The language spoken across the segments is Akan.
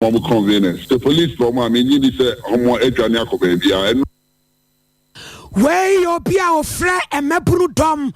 ma ɔmo kɔn Venus. Sɛ police pɛ ɔmo a, me nnye di sɛ ɔmo adwane akɔ baabiaa. Ɛno. Wei yɛ obi a ɔfrɛ mmabunu dɔm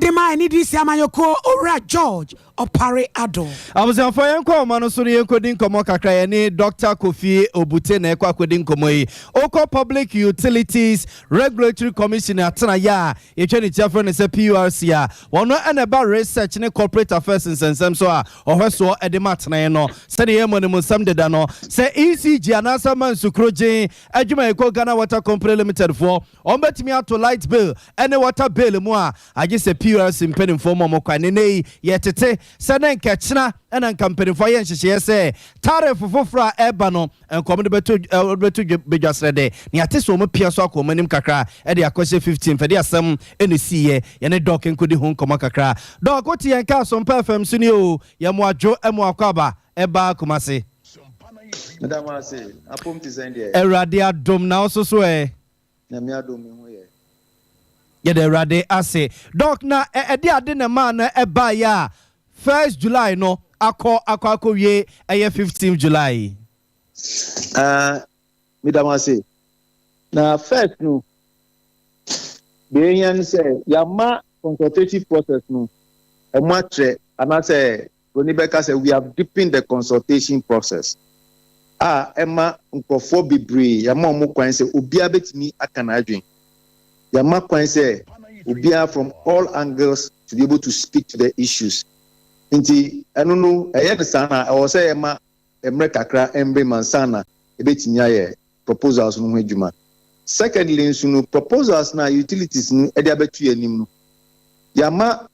de ma NDC amanyɔkuo, Owura George Opare Addo. Abusuafoɔ yɛnkɔ ahoma no so na yɛnkɔdi nkɔmmɔ kakra. Yɛne Dɔkta Kofi Obute na ɛkɔ akɔdi nkɔmmɔ yi. Wokɔ Public Utilities Regulatory Commission atenaeɛ a yɛtwa ne ti afrɛ no sɛ PURC a, wɔn na ɛba Research ne Corporate Affairs nsɛnsɛm so a Ɔhwɛsoɔ de ma tene no sɛdeɛ yɛn mmɔ no mu nsɛm deda no sɛ ECG anaasɛ ama nsukuro gyen adwuma ɛkɔ Ghana Water Company Limited foɔ wɔn bɛtumi ato light bill ne water bill mu a agye sɛ PURC mpanimfoɔ ma wɔn kwan nenɛ yi yɛtete sɛ ne nka ɛkyena na nka mpanimfoɔ ayɛ nhyehyɛeɛ sɛ tariff foforɔ a ɛreba no Nkɔɔ wɔde bɛto eh, wɔde bɛto dwa- badwa serɛ dɛ na yɛate sɛ wɔn pia so akɔ wɔn anim kakra ɛde akɔhyɛ 15 fɛde asɛm ɛna ɛsiiɛ yɛne Doc nkɔdi ho nkɔmmɔ kakra Doc wote yɛn nka Asompa FM so ni oo yɛ mo adwo ɛ mo akɔ aba ɛbaa Kumase Meda mo ase. Apom te sɛn deɛ? Awurade adom na wo nso so ɛ? Nyame adom me ho yɛ. Yɛda awurade ase. Doc na ɛde ade na ɛmaa no ɛbaeɛ a first July no akɔ akɔ akɔwie ɛyɛ fifteenth July yi? Aah meda mo ase. Na first no deɛ ɛhia ne sɛ yɛama consultative process no ɛmu atrɛ anaasɛ Broni bɛka sɛ, We have deepened the consultation process, a ɛma nkurɔfoɔ bebree, yɛama wɔn kwan sɛ obiara bɛtumi aka n'adwene. Yɛama kwan sɛ obiara from all angles to be able to speak to the issues. Nti ɛno no ɛyɛ no saa na ɛwɔ sɛ yɛma mmerɛ kakra mmere ma nsa na ɛbɛtumi ayɛ proposals no ho adwuma. Secondly nso no, proposals no a utilities no de abɛto yɛn anim no, yɛama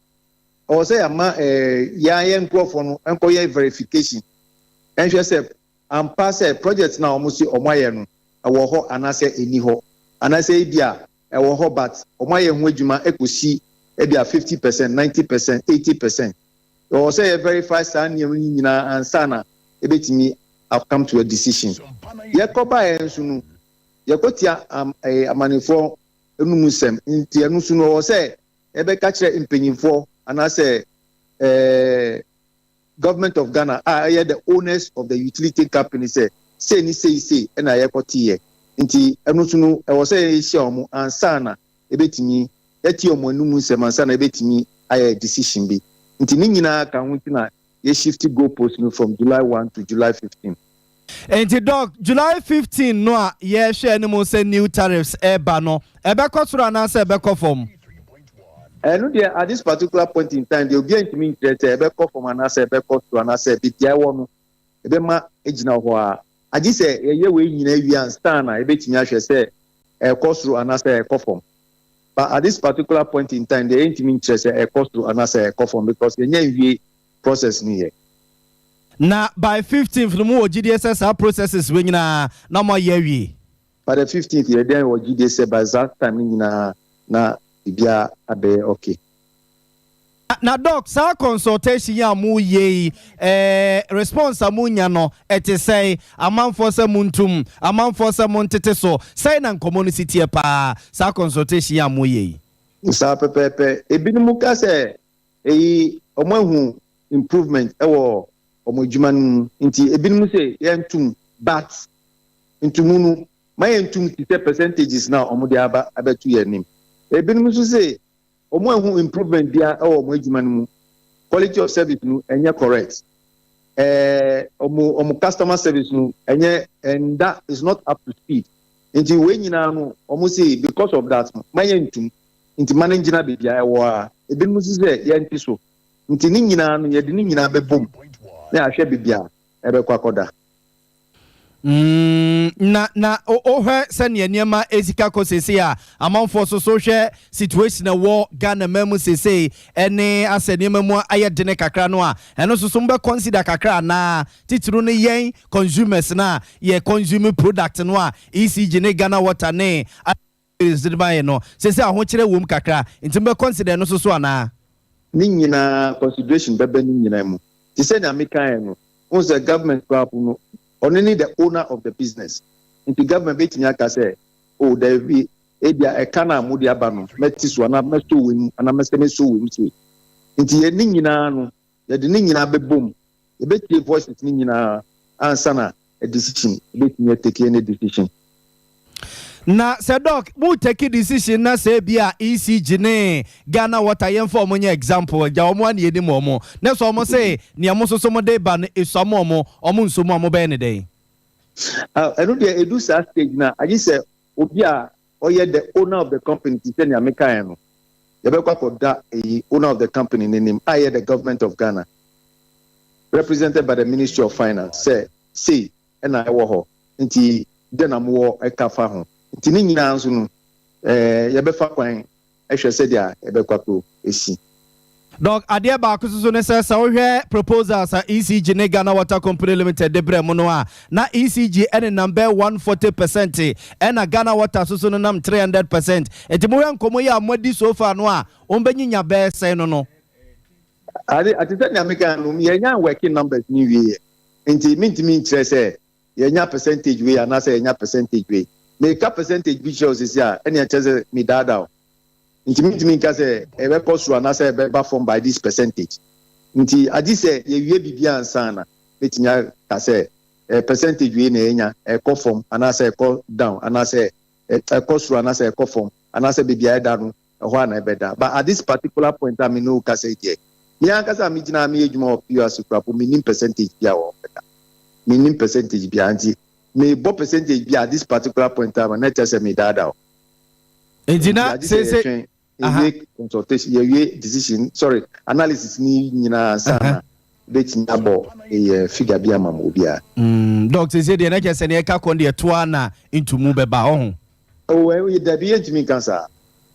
Ɔwɔ sɛ yɛma yɛn ara yɛn nkurɔfoɔ no nkɔyɛ verification nhwɛ sɛ ampa sɛ project no a wɔse wɔayɛ no ɛwɔ hɔ anaasɛ ɛnni hɔ. Anaasɛ ebia ɛwɔ hɔ but wɔayɛ ho adwuma kɔsi ebia fifty percent, ninety percent, eighty percent. Yɛwɔ sɛ yɛ verify saa nneɛma yi nyinaa ansa na yɛbɛtumi a come to a decision. Yɛkɔ baeɛ nso no yɛkɔtia am ɛɛ amannefoɔ nom nsɛm nti ɛno nso no ɔwɔ sɛ Yɛbɛka kyerɛ mpanyimfoɔ anaasɛ eh, Government of Ghana a ɛyɛ the owners of the utility company sɛ sei ne sei sei ɛna yɛkɔteeɛ. Nti ɛno nso no ɛwɔ sɛ yɛhyia wɔn ansa na yɛbɛtumi yɛatie wɔn anum nsɛm ansa na yɛbɛtumi ayɛ decision bi. Nti ne nyinaa ka ho nti na yɛ shifti goal post no from July one to July fifteen. Enti Doc, July fifteen no a yɛrehwɛ anim sɛ new tariffs reba no, ɛbɛkɔ soro anaasɛ ɛbɛkɔ fam? Ɛno deɛ at this particular point in time deɛ obiara ntumi nkyerɛ sɛ ɛbɛkɔ fam anaasɛ ɛbɛkɔ soro anaasɛ baabi a ɛwɔ no ɛbɛma agyina hɔ ara. Agye sɛ yɛyɛ wei nyinaa wie ansa na yɛbɛtumi ahwɛ sɛ ɛrekɔ soro anaasɛ ɛrekɔ fam. But at this particular point in time deɛ yɛntumi nkyerɛ sɛ ɛrekɔ soro anaasɛ ɛrekɔ fam because yɛnya nwie process no yɛ. Na by fifteenth no mo wɔ gyidie sɛ saa processes wei nyinaa na mo ayɛ awie? By the fifteenth yɛdɛn wɔ gyidie sɛ by saa time no nyinaa na biribiara abɛyɛ okay. Na doc saa consultation yi a mo yɛ yi ɛɛ response a mo nya no ɛte sɛn? Amanfoɔ sɛ mo ntum, amanfoɔ sɛ mo ntete so, sɛn na nkɔmɔ no si teɛ paa saa consultation yi a mo yɛ yi? Saa pɛpɛɛpɛ, ebinom ka sɛ eyi wɔn ahu improvement ɛwɔ wɔn adwuma no mu nti ebinom sɛ yɛn ntum but ntumu no ma yɛn ntum te sɛ percentages na wɔn de aba abɛto yɛn anim. Ebinom nso sɛ Ɔmo anhu improvement biaa wɔ ɔmo adwuma no mu, quality of service no ɛnyɛ correct, ɛɛ ɔmo ɔmo customer service no ɛnyɛ ɛnda is not up to speed nti wei nyinaa no ɔmo se because of that no ma yɛntum nti ma no ngyina bebia ɛwɔ aa ebinom se sɛ yɛnte so nti ne nyinaa no yɛde ne nyinaa bɛbom na yɛahwɛ bebia ɛbɛkɔ akɔda. Mm, na, na wohwɛ sɛnea nneɛma esi ka kɔ sese a, amanfoɔ so so hwɛ situation a ɛwɔ Ghana man mu sese, ɛne asɛ nneɛma mu ayɛ dene kakra no a, ɛno so so mobɛ consider kakra anaa? Titiriw no yɛn consumers no a yɛ consume product no a ECG ne Ghana Water ne Phyllis de mae no, seesei ahokyerɛ wom kakra, enti mobɛ consider ɛno nso so anaa? Ne nyina ara, consideration bɛbɛ ne nyina mu. Te sɛ nea me kaeɛ no, wohu sɛ government koraa po no, ɔno ne the owner of the business. Nti government bɛtumi aka sɛ, oh daabi, ebia ɛka no a mode aba no, mɛte so anaa mɛsɔ wei mu anaa mɛsane asɔ wei mu sei. Nti yɛn ne nyina ara no, Yɛde ne nyinaa bɛbom, yɛbɛtie voices no nyinaa ansa na a decision bɛtumi a take any decision. Na sɛ doc mo take decision na sɛ bi a ECG ne Ghana water yɛmfa ɔmo nyɛ example agya ɔmo a na yɛnim ɔmo na sɛ ɔmo se nea mo nso so mo de ba no esua mo ɔmo ɔmo nso mo a mobɛyɛ no dɛn? Ah ɛno deɛ ɛdu saa stage no a agye sɛ obi a Ɔyɛ the owner of the company nti sɛnea mekaeɛ no, yɛbɛkɔ akɔda eyi owner of the company no anim a ɛyɛ the Government of Ghana represented by the Ministry of Finance sɛ sei na ɛwɔ hɔ nti dɛn na mowɔ ka fa ho nti ne nyinaa nso no yɛbɛfa kwan hwɛ sɛdeɛ ɛbɛkɔ akɔ si. Doc, adeɛ baako nso so ne sɛ, sɛ wo hwɛ proposals a ECG ne Ghana Water Company Limited de brɛɛ mo no a, na ECG nenam bɛyɛ 140 percent, ɛna Ghana Water nso so nenam 300 percent. Nti mo hwɛ nkɔmmɔ yi a mo adi so far no a, wɔn bɛ nyinya bɛyɛ sɛn no no? Ade, te sɛ nea me kaa no, yɛn nya working numbers no nwie yɛ, nti me ntumi nkyerɛ sɛ yɛnya percentage wei anaasɛ yɛnya percentage wei. Meka percentage bi kyerɛ wo sisi a, ɛne ɛkyɛ sɛ medaadaa wo. Nti mentumi nka sɛ ɛbɛkɔ soro anaasɛ ɛbɛba fam by this percentage. Nti agye sɛ yɛwie biribi ansa na mɛtumi aka sɛ percentage wei na yɛnya, ɛkɔ fam anaasɛ ɛkɔ down, anaasɛ ɛkɔ soro anaasɛ ɛkɔ fam, anaasɛ baabi a ɛda no Ɛhɔ ara na ɛbɛda. But at this particular point a me ne wo kasa yi deɛ, me ankasa a me gyina ha me yɛ adwuma wɔ PURC koraa mpo, me nnim percentage biara wɔ hɔ da. Me nnim percentage biara. Nti me bɔ percentage bi at this particular point in time a, na ɛkyerɛ sɛ me daadaa wo. Nti na seesei. Nti agye sɛ yɛ twɛn, yɛ wie consultation, yɛ wie decision, sorry, analysis ni nyinaa ansa na bɛtumi abɔ yɛ figure bi ama mo obiara. Mm, doc seesei deɛ na kyerɛ sɛ ne ɛka kɔn deɛ toa na ntumu bɛba, ɔho. Oh, eh, oh, dabi, yɛntumi nka saa.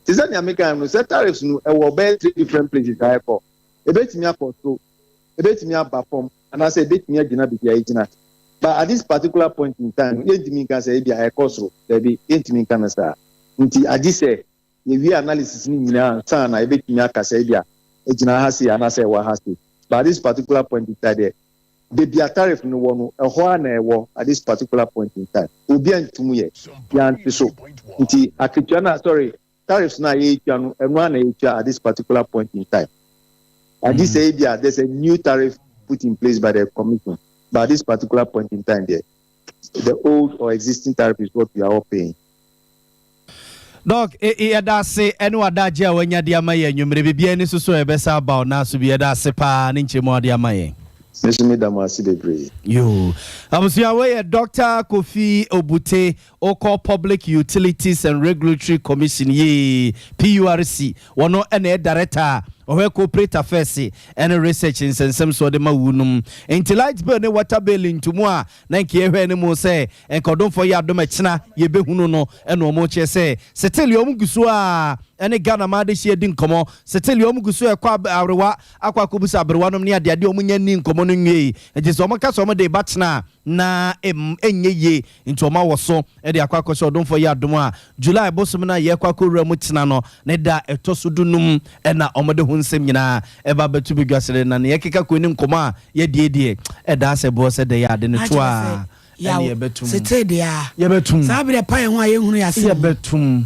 Te sɛ nea mekae no, sɛ tariffs no ɛwɔ ɔbɛyɛ three different places a ɛkɔ. Ebetumi akɔ soro, ebetumi aba fam, anaasɛ ebetumi agyina baabi a egyina. But at this particular point in time no, yɛntumi nka sɛ ebia ɛkɔ soro. Dabi, yɛntumi nka no saa. Nti agye sɛ Yɛwie analysis no nyinaa ansa na yɛbɛtumi aka sɛ ebia ɛgyina ha sei anaasɛ ɛwɔ ha sei. But at this particular point in time deɛ, baabi a tariff no wɔ no, ɛhɔ ara na ɛwɔ at this particular point in time. Obiara ntum yɛ biara nte so. Nti akatua no a, sorry, tariffs no a yɛretua no, ɛno ara na yɛtua at this particular point in time. Agye sɛ ebia there's a new tariff put in place by the commission. But at this particular point in time deɛ, The old or existing tariff is what we are all paying. Doc, e, e, yɛda ase ɛne w'adagye a wanya de ama yɛn anwummere. Biribiara ani so so a yɛbɛsa aba wo nan so bi. Yɛda ase paa ne nkyɛmu a ɔde ama yɛn. Me nso meda mo ase bebree. Yoo. Abusua wei yɛ Dr. Kofi Obute, wokɔ Public Utilities and Regulatory Commission, yee, PURC, Wɔno ɛna yɛ Darɛta a ɔhwɛ Cooperate Afɛɛse ɛne Research nsɛnsɛm soɔ de ma wuu nom. Nti Light Bill ne Water Bill ntomu a na nka yɛ hwɛɛ ne mu sɛ nka ɔdomfoɔ yɛ adom ɛkyena yɛ bɛ hunu no ɛna ɔmo kyerɛ sɛ settle yɛ ɔmo guso a ɛne Ghana mmaa adehyeɛ di nkɔmɔ settle yɛ ɔmo guso ɛkɔ ab aberewa akɔ akɔbusa aberewa nom ne adeade ɔmo nya nni nkɔmɔ no nwiei nti sɛ ɔmo ka sɛ ɔmo de ba kyena a na ɛmm ɛnyɛ yie nti wɔn awɔ so de akɔ akɔhyɛ ɔdomfoɔ yi adom a July bosome no a yɛrekɔ akɔwura mu tena no ne da a ɛtɔ so du num na wɔde ho nsɛm nyinaa ɛba abɛto badwa srɛ na nea ɛkeka kɔ ne nkɔmmɔ a yɛdie deɛ ɛda asɛ boɔ sɛ dɛyɛ a de no to a ɛne yɛbɛtum yɛbɛtum saa berɛ pae ho a yɛnhunu yɛ asɛm mu.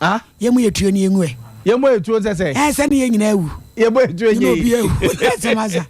Ah. Yɛ mo yɛ tuo ni yɛ ngu ɛ. Yɛ mo yɛ tuo sɛ sɛ. Ɛ sɛ ni yɛ nyina awu. Yɛ mo yɛ tuo nye yi. Yɛ mo bi awu. Ɛ sɛ ma sa.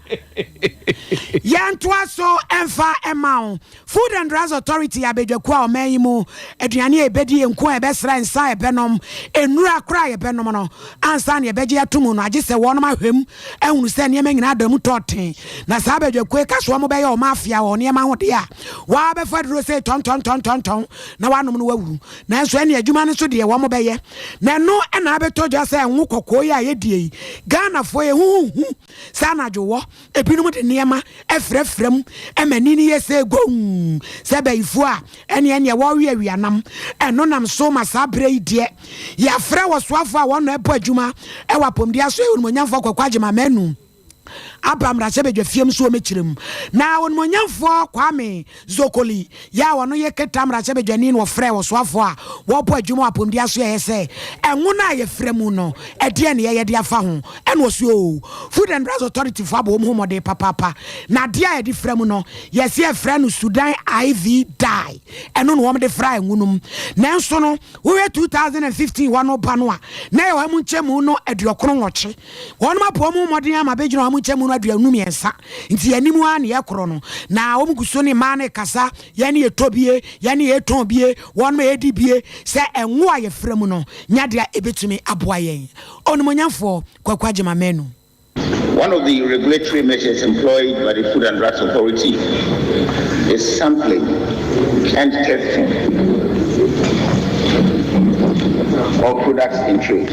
Yɛ ntoa so ɛnfa ɛma wo. Food and Drugs Authority yɛ abɛdwaku a ɔman yi mu aduane a yɛbɛdi, nko a yɛbɛsra, nsa a yɛbɛnom, nnura kora a yɛbɛnom no ansa na yɛbɛgye ato mu no agye sɛ wɔnom ahwɛ mu ahunu sɛ nneɛma nyinaa da mu tɔɔten. Na saa abɛdwakuo yi ka so wɔn bɛyɛ wɔn afea wɔ nneɛma ho deɛ a, waa bɛfa aduro sei tɔntɔntɔntɔntɔn na wanom no wawu. Nanso ɛne adwuma no nso deɛ wɔn bɛyɛ na ɛno na abɛtɔ dwa sɛ ngo kɔkɔɔ yi a yɛdie yi Ghanafoɔ yɛ ho hu sɛ anadwo wɔ ebinom de nneɛma afirafira mu ɛma ani no yɛ sɛ gomm sɛ bayifoɔ a ɛne ɛneɛ wɔreweawea nam ɛno nam so ma saa berɛ yi deɛ yɛafrɛ wɔ soafoɔ a wɔn ɛbɔ adwuma ɛwɔ apɔmuden aso yɛ onimonyamfoɔ kɔkɔ agyema manu aba mmarahyɛbadwafie mu nso wɔmɛkyerɛ mu. Na ɔnumonyamfoɔ Kwame Dzokoli yɛ a ɔno yɛ Keta mmarahyɛbadwani no wɔfrɛɛ wɔsoafoɔ a wɔrebɔ adwuma wɔ apɔmuden asoɛeɛ sɛ ɛnwona a yɛfrɛ mu no ɛdeɛn ne yɛyɛ de afa ho ɛna ɔse oo Food and Drugs Authority foɔ abɔ wɔn ho mmɔden papaapa na adeɛ a yɛde fra mu no yɛse yɛfrɛ no Sudan IV dye ɛno na wɔde fra ɛnwono mu nanso no wohwɛ 2015 hɔ no ba no a na yɛwɔ ɛmu nkyɛmu no aduɔkron nwɔtwe Wɔnom aboa wɔn mmɔden ama bɛgyina wɔn nkyɛn mu no aduanu mmiɛnsa nti yɛn anim ara ne yɛ korɔ no na wɔn gu so ne mmaa no rekasa yɛn ne yɛtɔ bie yɛn ne yɛtɔn bie wɔnom ɛredi bie sɛ ɛnwo a yɛfrɛ mu no nya deɛ ɛbɛtumi aboa yɛn Onimonyamfoɔ Kwaku Agyema Manu. One of the regulatory measures employed by the Food and Drugs Authority is sampling and testing of products in trade.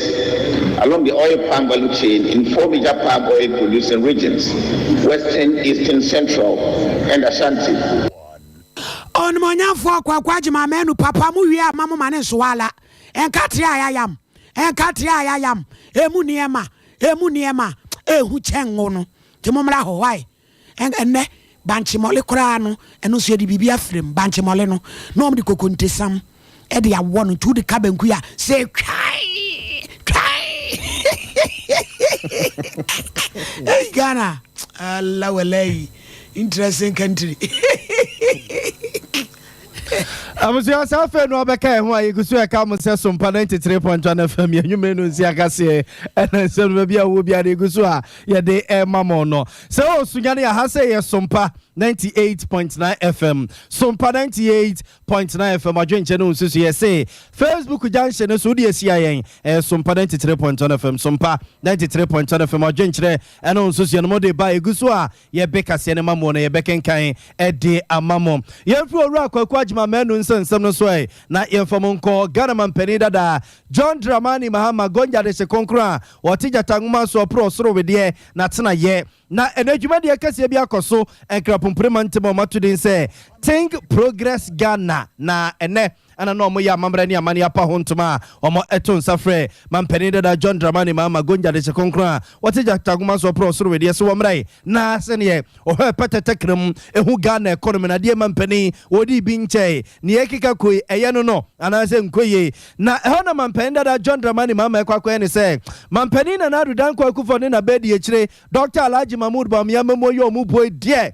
along the oil palm value chain in four major palm oil producing regions, Western, Eastern, Central, and Ashanti. Onimuonyamfoɔ Kwaku Agyemang Manu papa mo wie ama mo ma ne nsowa ala ɛnka tiri a yayam ɛnka tiri a yayam emu nneɛma emu nneɛma ehu kyɛn ngo no nti mo mmra hɔ why Ɛnnɛ, bankye mɔle koraa no, ɛno nso yɛde biribi afra mu. Bankye mɔle no, na wɔde kokontesam de awɔ no, nti wode ka banku yi a, sɛ twae twae. Ei Ghana! Allah walayi, interesting country. abusua saa afei no ɔbɛka ɛho a yɛgu so ɛka mo sɛ sompa 93.1 fm yɛ nnwuma no nsi akaseɛ ɛna nsɛm no baabi a wowɔ biara no yɛgu so a yɛde ɛma mo no sɛ ɔsunya no yɛha sɛ yɛ sompa 98.9 fm sompa 98.9 fm adwenkyɛ no nsusu yɛ se facebook junction no so wode asia yɛn ɛyɛ sompa 93.1 fm sompa 93.1 fm adwenkyerɛ ɛno nsusuɛ no mode ba ɛgu so a Yɛbe kaseɛ no ma mo no yɛbɛkenkan de ama mo. Yɛmfiri Owura Kwaku Agyemang Manu nsa nsɛm no so ɛ, na yɛmfa mu nkɔ Ghana Mampanin dada John Dramani Mahama Gongya Dehye Kronkron a ɔte gyata nwoma so ɔporo ɔsoro wedeɛ n'atenaeɛ. Na ɛnɛ dwumadie kɛseɛ bi akɔ so Nkrapomprema ntam a wɔato din sɛ Think Progress Ghana na ɛnɛ. Ɛna na wɔyɛ amammerɛ ne amanneɛ apa ho ntoma a wɔto nsa frɛ Mampanin dada John Dramani Mahama Gonja de hyɛ kronkron a wɔte Gyatagoma so ɔporɔw soro wedeɛ so wɔ mmra yi na sɛdeɛ ɔhwɛɛ pɛtɛ tɛkrɛm hu Ghana ɛkɔnɔmi no adeɛ mampanin wɔdii bi nkyɛe nea ɛkeka kɔ yi ɛyɛ no no anaasɛ nkɔ yie na ɛhɔ na Mampanin dada John Dramani Mahama ɛkɔ akɔyɛ ne sɛ Mampanin Nana Addo Dankwa Akuffo ne n'abadiakyire Dɔkta Alhaji Mahmood Bawumia Mamo yɛ wɔn buo yi deɛ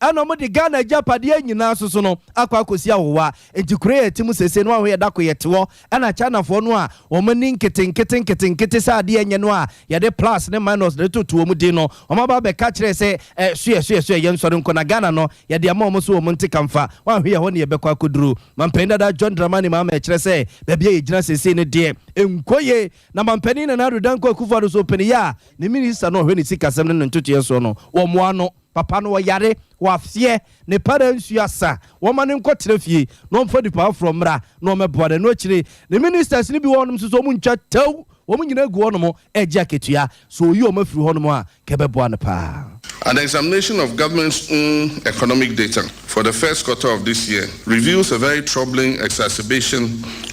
Ɛna wɔde Ghana agyapadeɛ nyinaa soso no akɔ akɔsi ahowa. Enti kuro yɛ te mu seesei no a hoyɛ da ko yɛ te hɔ. Ɛna Chinafoɔ no a wɔn ani nketenkete nketenkete sɛ adeɛ nyɛ no a yɛde plus ne minus na ɛtoto wɔn din no, wɔn aba abɛka kyerɛ sɛ eh soɛ soɛ soɛ yɛn sɔre nkɔ na Ghana no yɛde ama wɔn so wɔn nte kamfa. Wɔanhwe ɛhɔ na yɛbɛkɔ akɔduru. Manpanin dada John Dramani Mahama ɛkyerɛ sɛ baabi a yɛgyina seesei no deɛ ɛnkɔ yie. Na Manpanin Nana Addo Dankwa Akufo-Addo nso ɔpɛni yɛ a ne minister no a ɔhwɛ ne sikasɛm ne ne ntotoeɛ soɔ no wɔmmoa no. Papa no ɔyare, waseɛ, ne paraa nsuo asa, wɔmma no nkɔtena fie na ɔmfa nipa foforɔ mmra na ɔmmɛboa no, ɛno akyire ne ministers no bi wɔ hɔnom nso so wɔntwa tɛw, wɔn nyinaa gu hɔnom regye akatua, sɛ ɔyi wɔn afiri hɔnom a nka ɛbɛboa no pa ara. An examination of government's own economic data for the first quarter of this year reveals a very troubling exacerbation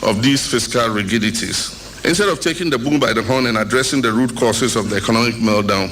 of these fiscal rigidities. Instead of taking the bull by the horn and addressing the root causes of the economic meltdown,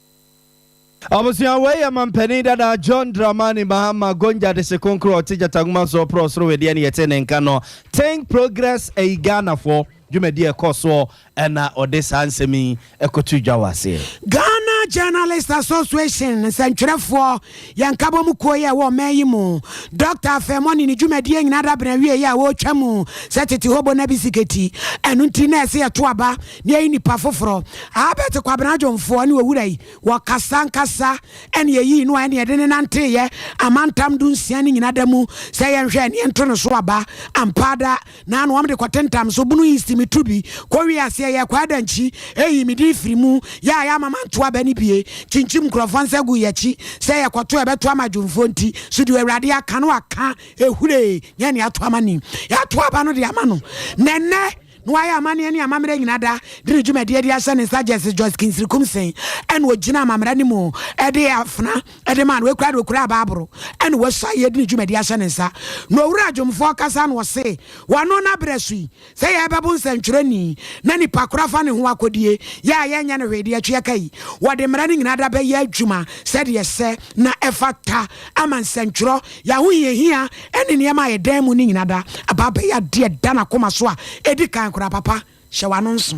Abusua wei yɛ mampanin dada John Dramani Mahama Gonja Desekonkro a ɔte Gyatagoma so ɔporɔ ɔsoro wedeɛ ne yɛte ne nka no Think Progress ayi Ghanafoɔ dwumadi a ɛkɔ soɔ ɛna ɔde saa nsɛm yi ɛkɔto dwa wɔ aseɛ. Ghana Journalists Association nsɛntwerɛfoɔ Yɛn nkabɔmu kuo yi a ɛwɔ ɔman yi mu, Dɔkta Afɛmɔ ne ne dwumadie nyinaa dabene awieeɛ a wɔretwa mu sɛ tete hobo no abi siketi. Ɛno nti na ɛsɛ yɛto aba na yɛyi nnipa foforɔ. Albert Kwabena Adwomfoɔ ne owura yi, wɔkasa ankasa ɛne yɛyii no a ɛne yɛde no nanteeɛ amantam dunsia no nyina da mu sɛ yɛnhwɛ ɛne yɛnto no so aba. Ampa ara, Na na wɔde kɔtentam so bunu yisti me turu bi kɔwie aseɛ yɛ kɔ adankyi eyi me din firi mu yɛ a yɛ ama manto aba no bie kyinkyim nkurɔfoɔ nsa gu yɛkyi sɛ yɛkɔto ɛbɛto ama dwomfoɔ nti so deɛ awurade aka no aka ehuree nyɛ nea ato ama nim yɛato aba no de ama no na ɛnɛ na wayɛ amanneɛ ne amammerɛ nyina da de ne dwumadie de ahyɛ ne nsa Justice Joyce Kingsirikum Seng ɛna ogyina amammerɛ no mu ɛde afena de maa no, ekura de okuraa Baabolo ne wɔasua a yɛde ne dwumadi ahyɛ ne nsa. Na owura dwomfoɔ kasa na ɔse, Wɔano no abrɛ so yi, sɛ yɛrebɛbo nsɛntwerɛni na nipa koro afa ne ho akɔdie, yɛ a yɛnyɛ no hwee deɛ ɛtweɛ ka yi, wɔde mmara no nyinaa da bɛyɛ adwuma sɛdeɛ ɛsɛ na ɛfata ama nsɛntwerɛ, yɛ ahohiahia ne nneɛma a ɛdan mu no nyina da aba abɛyɛ adeɛ ɛda n'akoma so a ɛdi kan koraa. Papa, hyɛ w'ano nso.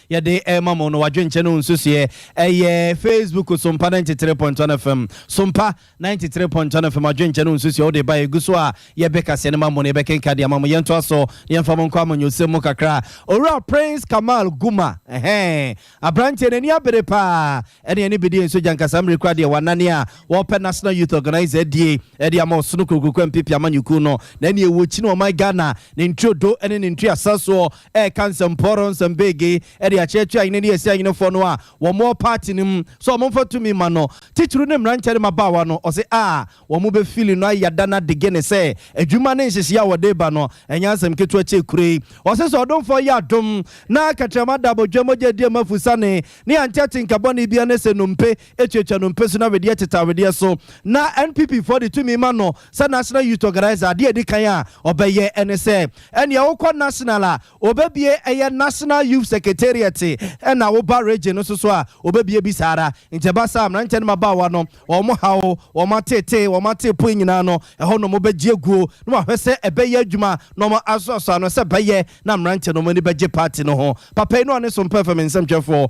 Yɛde rema mo no, w'adwenkyɛ ne wo nsusuiɛ ɛyɛ Facebook Sompa 93.1 FM. Sompa 93.1 FM, adwenkyɛ ne wo nsusuiɛ wode ba ɛgu so a, yɛbɛ kaseɛ no ma mo na yɛbɛkenka de ama mo. Yɛntoa so na yɛmfa mo nkɔ amanyɔsɛm mu kakra. Owura Prince Kamal Guma, ɛhɛn, aberanteɛ n'ani abere paa, ɛne ɛne bɛdi nso gya nkasa mmere kura deɛ w'anane a wɔpɛ National Youth Organizer adie ɛde ama ɔsono kurokurokwa mpp amanyɔkuo no. Na ɛne ɛwɔ kyi no ɔman Ghana, ne ntiri odo ɛne ne ntiri asasoɔ ɛreka nsɛmpɔɔrɔ nsɛm beegee de akyerɛkyerɛ ahene ne Asia ahenefoɔ no a wɔwɔ paati no mu sɛ wɔmfa tumi mma no, titiriw ne mmeranteɛ ne mmabaawa no. Ɔse a wɔbɛfili no ayɛ da no adege ne sɛ adwuma ne nhyehyeɛ a wɔde reba no ɛnyɛ asɛm ketewa kyɛ kuro yi. Ɔse sɛ ɔdomfoɔ yɛ adom na katrama da abodwoɔ mogya adi ama fusane ne ante atenka bɔne biara ne sɛ nnompe tuatua nnompe so na wedeɛ tete awedeɛ so na NPP foɔ de tumi ma no, Sɛ National Youth Organiser, adeɛ a ɛdi kan a ɔbɛyɛ ne sɛ, ɛnneɛ wokɔ National a, ɔbɛbue ɛyɛ National Youth Secretariat, ɛnna woba Region nso so a, ɔbɛbue bi saa ara. Nti ɛba saa a, mmeranteɛ ne mmabaawa no, wɔn haw, wɔn ateetee, wɔn ateepoe nyinaa no, ɛhɔ na wɔbɛgye aguo na wɔahwɛ sɛ ɛbɛyɛ adwuma na wɔasɔsɔ ano sɛ ɛbɛyɛ na mmeranteɛ no wɔn ani bɛgye party no ho. Papa yi ne ɔne Sompa FM nsɛmtwerɛfoɔ.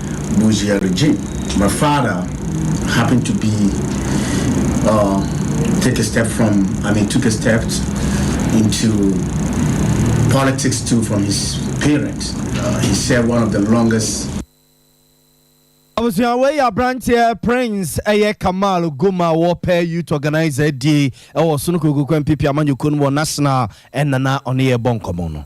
Bougie-Aludji. My father happened to be uh, take a step from, I mean, took a step into politics too from his parents. Uh, he served one of the longest abusua wei yɛ aberanteɛ prince ɛyɛ kamal goma wɔpɛ youth organizer die ɛwɔ sono kokokoa mpipi amanyɔkuo no wɔ national ɛnana ɔne yɛ bɔ nkɔmmɔ no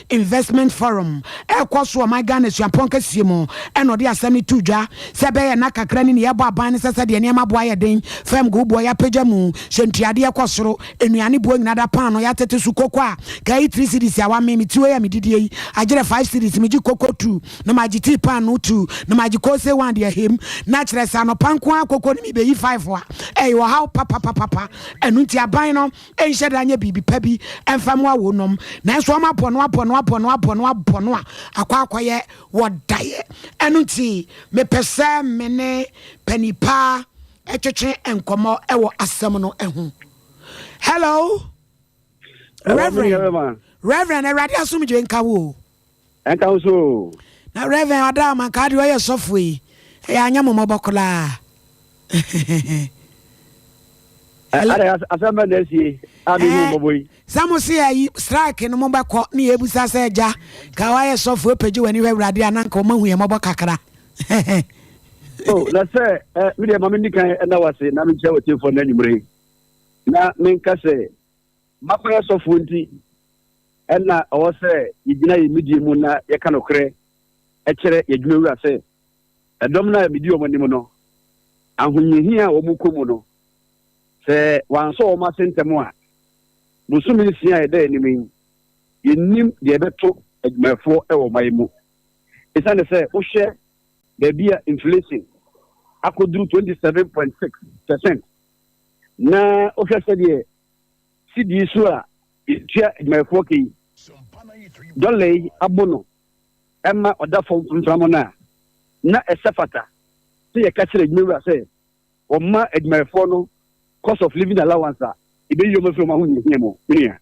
Investment Forum ɛrekɔ so wɔ ɔman Ghana suapɔn kɛseɛ mu ɛna ɔde asɛm no too dwa sɛ ɛbɛyɛ nna kakra ni ne yɛrebɔ aban no sɛ sɛdeɛ nneɛma boɔ ayɛ den fam go boɔ yɛapagya mu hyɛ ntuadeɛ kɔ soro nnuane boɔ nyina da paanoo yɛatete so koko a kae three cedis awa me me ti wei a medidie yi agyerɛ five cedis megye koko two na magye tii paanoo two na magye kose one de ahem na kyerɛ sɛ anɔpa nko ara koko no mebɛyi five a ɛyɛ ɔhaw papapapapa ɛno nti aban no nhyɛ da nyɛ biribi pa bi mfa mmoa wɔn nom nanso wɔn abɔ no abɔ no abɔ no abɔ no abɔ no a akɔ akɔyɛ wɔ daeɛ ɛno nti mepɛ sɛ me ne panipa ɛtwetwe nkɔmmɔ ɛwɔ asɛm no ɛho hello reverend reverend awurade asomdwe nka wo Ɛnka wo so o. Na Rev. Ɔdaa Mankaa deɛ ɔyɛ sɔfoɔ yi, ɛyɛ anyɛ mo mmɔbɔ koraa. Hello. Ada asɛm bɛ na asie a mehu mmɔbɔ yi. Sɛ mo se ayi strike no mobɛkɔ ne yɛ abusa sɛ agya ka woayɛ sɔfoɔ apagye w'ani hwɛ awurade a na nka ɔma hu yɛ mmɔbɔ kakra. oh, na sɛ eh, medeɛ ma menni kan ɛna wase na menkyɛ wɔ tiefoɔ no anwummere na menka sɛ M'akɔyɛ sɔfoɔ nti, ɛnna ɔwɔ sɛ yɛgyina yɛn nimdeɛ mu na yɛka nokorɛ kyerɛ yɛn adwumawura sɛ, Ɛdɔm no a medi wɔn anim no, ahohiahia a wɔkɔ mu no, sɛ wɔansɔ wɔn ase ntɛm a, bosome nsia a ɛda yɛn anim yi, yɛnnim deɛ ɛbɛto adwumayɛfoɔ wɔ ɔman yi mu. Ɛsiane sɛ wohwɛ baabi a inflation akɔduru 27.6 percent, na wohwɛ sɛdeɛ sidii so a yɛtua adwumayɛfoɔ ka yi dɔla yi abo no ɛma ɔda fam mframa no a na ɛsɛ fata sɛ yɛka kyerɛ adwumawura sɛ wɔma adwumayɛfoɔ no cost of living allowance a ɛbɛyi wɔn afiri wɔn ahohiahia mu menua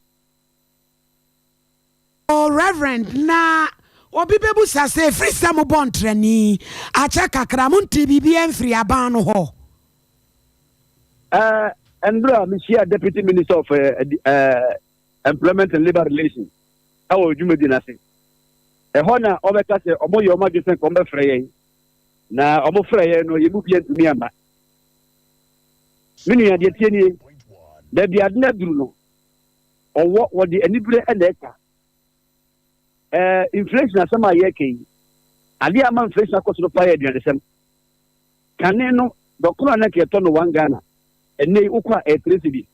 Oh, Reverend, na obi bɛbusa sɛ, ɛfiri sɛ mobɔ ntrani akyɛ kakra, montee biribiara mfiri aban no hɔ? Uh, and bro, Michia, Deputy Minister of uh, uh, Employment and Labor Relations, I will do medina say. A honor of a case, or more your majesty and combat fray. Now, or more fray, no, you move yet to me. Many are the tierney, there be adna bruno. Ɔwɔ, wɔde anibere na ɛka. Ɛɛ, inflation asɛm a yɛreka yi, adeɛ a ama inflation akɔ so no paa yɛ aduanesɛm. Kane no, dɔkono a na nka yɛtɔ no one Ghana, ɛnɛ yi wokɔ a ɛyɛ three cedi.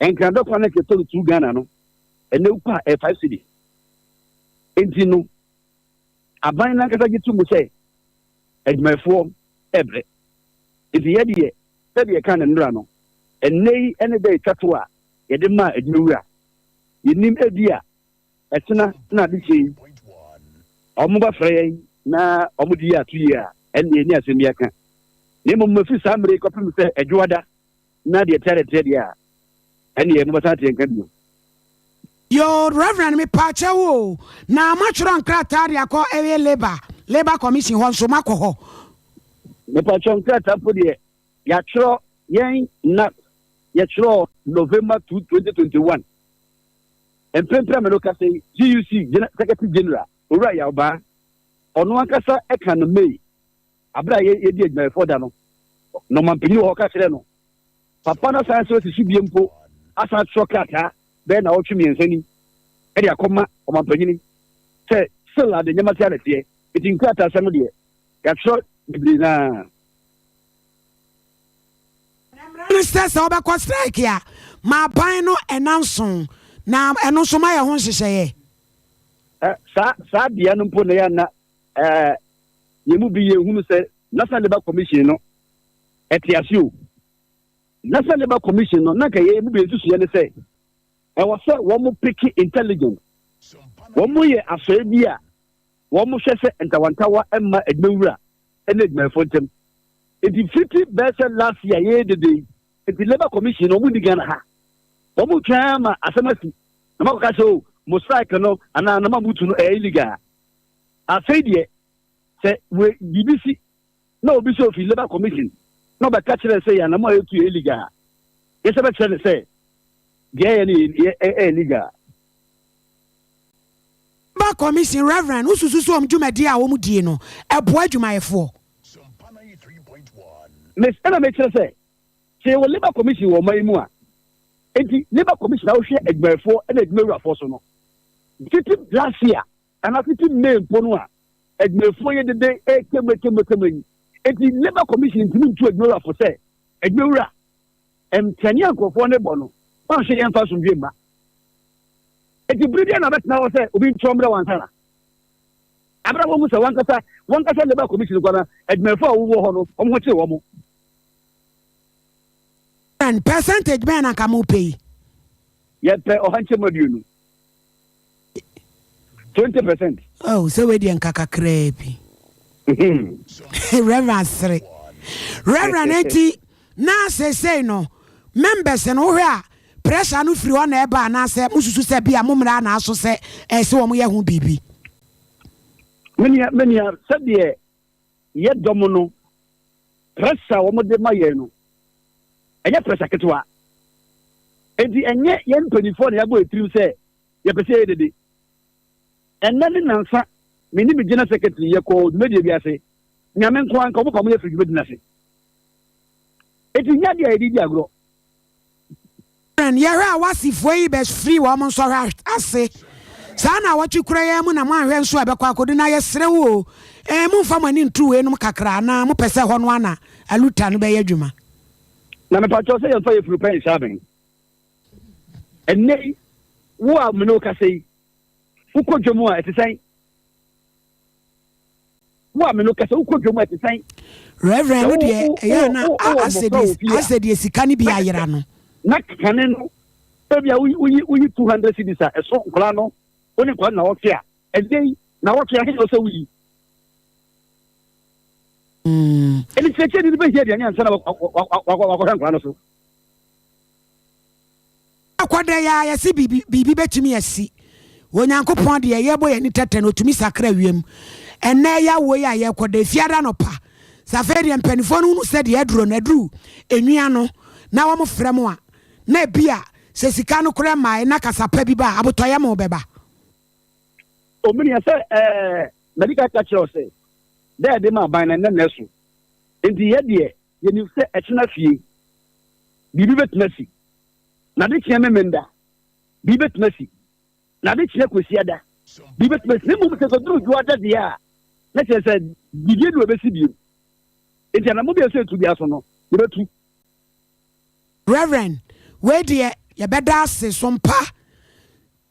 Nkran dɔkono a na nka yɛtɔ no two Ghana no, ɛnɛ wokɔ a ɛyɛ five cedi. Nti no, aban no ankasa gye to mu sɛ adwumayɛfoɔ ɛbrɛ. Nti yɛdeɛ Sɛdeɛ yɛkaa no nnora no, ɛnnɛ yi ne da a ɛtwa to a yɛde maa adwumawura. Yɛnnim, ebia ɛkyena na adekye yi wɔbɛfrɛ yɛn na wɔde yɛn ato yie a, ɛnneɛ yɛnni asɛm bi aka. Na mmom ɛfiri saa mmerɛ yi kɔpem sɛ adwoada na deɛ ɛteadeɛ teɛ deɛ a, Ɛneɛ mobɛsan ateɛ nka bio. Yoo Reverend me paakyɛw o na matwerɛ nkrataa de akɔ ɛyɛ labour labour commission hɔ nso makɔ hɔ. Me paakyɛw nkrataa mpo deɛ yatwerɛ yɛn na yɛtwerɛ November 2, 2021 mpempem me no kasa yi GUC Secretary General Owura Yawbaa ɔno ankasa ɛka no May Bere a yedii Adwumayɛfoɔ Da no, na ɔmampanyin wɔ hɔ ka kyerɛɛ no. Papa no asan sɛ ɔsi so bio mpo asan atwerɛ krataa bɛyɛ nnawɔtwe mmiɛnsa ni de akɔma ɔmampanyin sɛ still ade nneɛma tea na ɛteɛ. Enti nkrataasɛm no deɛ, yɛatwerɛ bebree no ara. Na mmara no sɛ sɛ wobɛkɔ strike a, ma aban no nna nson, na ɛno nso mayɛ ho nhyehyɛeɛ. Ɛ, saa, saa bea no mpo na yɛanna Ɛɛ, yɛn mu bi yɛ hunu sɛ National Labour Commission no ɛte ase o. National Labour Commission no na nka yɛn mu bi nsusuiɛ ne sɛ ɛwɔ sɛ wɔn peke intelligent. Wɔn yɛ asɔre bi a wɔn hwɛ sɛ ntawantawa mma adwumawura ne adwumayɛfoɔ ntam. Nti fiti bɛɛ sɛ last year yɛyɛ dede yi, nti Labour Commission no wɔn ni Ghana ha. Wɔn twɛn ama asɛm asi na wɔn akɔka sɛ o mo strike no anaa nama mutu no ɛyɛ illegal. Afei deɛ, sɛ we biribi si na obi sɛ ofi Labour Commission na ɔbɛka kyerɛ sɛ yɛ anamɔ a yɛtu yɛ illegal a, yɛsɛ bɛkyerɛ no sɛ deɛ ɛyɛ no yɛ ɛyɛ legal. Labour Commission, Rev. Wosusu sɛ wɔn dwumadie a wɔdie no boa adwumayɛfoɔ? Miss, Ɛna mekyerɛ sɛ, sɛ yɛwɔ Labour Commission wɔ ɔman yi mu a, enti Labour Commission a wohwɛ adwumayɛfoɔ ɛna adwumawurafoɔ so no, tete last year Ana tete May mpo no a adwumayɛfoɔ yɛ dede rekam rekam rekam yi nti Labour Commission ntumi ntu adwuma wura fo sɛ adwuma wura ntɛne a nkurɔfoɔ no bɔ no wɔnhwɛ yɛmfa asomdwe mma nti bere bia na ɔbɛtena hɔ sɛ obi ntorɔ mmerɛ wansa na abere wɔn sɛ wankasa wankasa Labour Commission kɔ na adwumayɛfoɔ a wɔwɔ hɔ no wɔn ho kyere wɔn. Percentage bɛn na nka mo pɛ yi? Yɛpɛ ɔha nkyɛmu aduonu. twenty percent. oh sɛ wei deɛ nka kakraa bi reverend sere reverend eti na seesei no members no wohwɛ a pressure no firi hɔ na ɛba anaasɛ mosusu sɛ bi a mo mmara na aso sɛ ɛsɛ wɔn yɛ ho biribi. menua menua sɛdeɛ yɛ dɔm no, pressure a wɔde ma yɛn no, ɛnyɛ pressure ketewa. Enti ɛnyɛ yɛn mpanimfoɔ na yɛabɔ yɛn tirim sɛ yɛpɛ sɛ yɛyɛ dede. Ɛnnɛ ne nansa, me ne me General Secretary yɛkɔɔ dwumadie bi ase, Nyame nko ara nka, wɔpamoo yɛn firii dwumadie no ase. Enti ɛnyɛ adeɛ a yɛde redi agorɔ. Karen, Yɛhwɛ a w'asefo yi bɛfiri wɔn nsɔhwɛ ase saa nnawɔtwe koro yi ara mu na moanhwɛ nso a ɛbɛkɔ akodu. Na yɛsrɛ wo oo, ee, momfa mo ani nto weinom kakra anaa mopɛ sɛ ɛhɔ no ara na aluta no bɛyɛ adwuma? Na mepa kyɛw sɛ yɛmfa yafunu pɛ nhyɛ abɛn. Ɛnnɛ yi, wo a me ne wo kasa yi, wokɔ dwam a, ɛte sɛn? Wo a me no, kɛsɛ wokɔ dwom a ɛte sɛn? Rev. Ɛno deɛ, ɛyɛ a na asɛ deɛ sika no bi ayera no. Na kane no, ebia woyi woyi two hundred cedis a, ɛso nkwadaa no, wo ne nkwadaa no nawɔtwe a, ɛnɛ yi nawɔtwe ahe na ɔsɛ woyi? Ɛnni kyerɛkyerɛni no bɛhia aduane ansa na wakɔhwɛ nkwadaa no so. Akɔda yi ara yɛse biribi biribi bɛtumi asi. Onyankopɔn deɛ yɛbɔ yɛn ani tɛtɛ no ɔtumi sakra wiem. Ɛnnɛ yɛ awoɔ yi a yɛrekɔda efiada anɔpa. Sɛ afei deɛ mpanimfoɔ no hunu sɛ deɛ aduro no aduru enwia no na wɔn frɛ mo a na ebia sɛ sika no koraa mmaeɛ na kasa pa bi ba a abotɔyɛ mo bɛba. Omini yɛ sɛ ɛɛ mɛdi ka ka kyerɛ ɔsɛ dɛ ɛde ma aban na ɛnɛ na ɛso nti yɛ deɛ Yenim sɛ ɛkyena fie, biribi betumi asi. Na ade kyea Memeneda, biribi betumi asi. Na ade kyea Kwasiada, biribi betumi asi. Na mmom sɛ ekoduru Dwoada deɛ a, na kyerɛ sɛ biribi anu a ebesi bio. Enti anammɔn biara a ɛsɛ sɛ yɛtu biara so no, yɛbɛtu. Rev. Wei deɛ yɛbɛda ase. So mpa?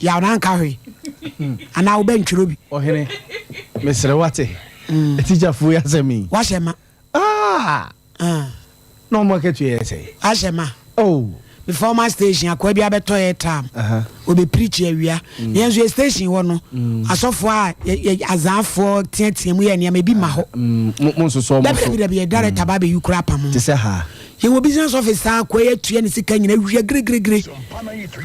yaw na nka hwee anaa wobɛntwerɛ bi ɔhene mesrɛ wate atikyafoɔ yi asɛm yi wahyɛ ma na ɔmo akatua yɛ sɛ ahyɛ ma me former station akoa bi abɛtɔ yɛ tam ɔbɛpirikyi awia na yɛn nso yɛ station hɔ no asɔfoɔ a azaafoɔ teatea mu yɛ nneɛma ebi ma hɔ dabi dabi dabi yɛ director ba bɛyi kora apamo yɛwɔ business office saa kɔ yɛ tua ne sika nyina wia giregiregire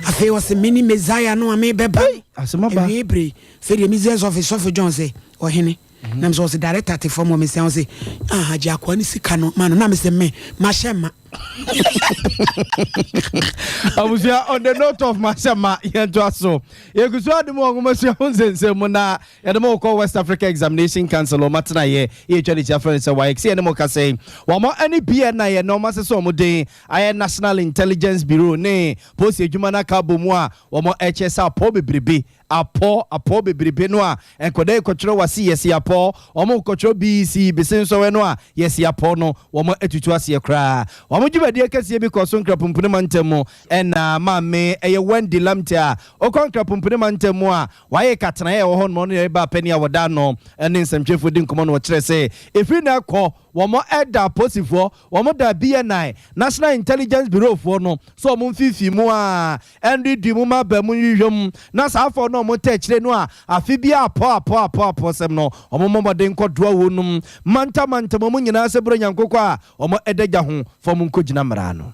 afei ɔse mene messiah no a mebɛba awie bere sɛdeɛ business office sɔfo john sɛ ɔhene mhm. nam sɛ ɔse director te fam wɔ mesia wo se ah, agye akoa ne sika no ma no na mesɛ me mahyɛ ma abusua on the note of mahyɛ ma yɛntoa so yɛgu so ade mu ɔnwomasua ho nsɛnsɛm mu na Yɛde mo kɔ West Africa Examination Council wɔn atenaeɛ, yɛtwa ne tia frɛ no sɛ WAEC, sɛ yɛne mo kasa yi, wɔn ani bi ɛna yɛ nɔɔma sɛ sɛ wɔn den ayɛ National Intelligence Bureau ne Polisi adwuma no aka abɔ mu a, wɔn ɛkyɛ sɛ apɔ bebrebe, apɔ, apɔ bebrebe no a, nkɔda ɛkɔtwerɛ wase yɛse apɔ, wɔn kɔtwerɛ BEC, bese nsɔwɛ no a, yɛse apɔ no, wɔn atutu aseɛ koraa. Wɔn dwumadie kɛseɛ bi kɔɔ so Nkrapumpuni mantam mu ɛna Maame ɛyɛ Wendy Lamte a ɔkɔ Nkrapumpuni mantam mu a Wɔayɛ ka tena a ɛwɔ hɔ nom no yɛ baa panin a wɔda ano ne nsɛmtwerɛfoɔ di nkɔmmɔ no wɔkyerɛ sɛ ɛfiri nnɛ rekɔ wɔn ɛda aposifoɔ wɔn da BNI, National Intelligence Bureau, foɔ no sɛ wɔn mfimfini mu a ɛnredui mu ma baamu nhwehwɛ mu na saa afɔɔ no wɔn ta akyire no a afe biara apɔ apɔ apɔ apɔ sɛm no wɔn mmɔ mmɔden nkɔ doa wɔn nom mantam mantam wɔn nyinaa sɛ berɛ nyankokɔ a wɔn ɛda gya ho fa wɔn nkɔgyina mmara no.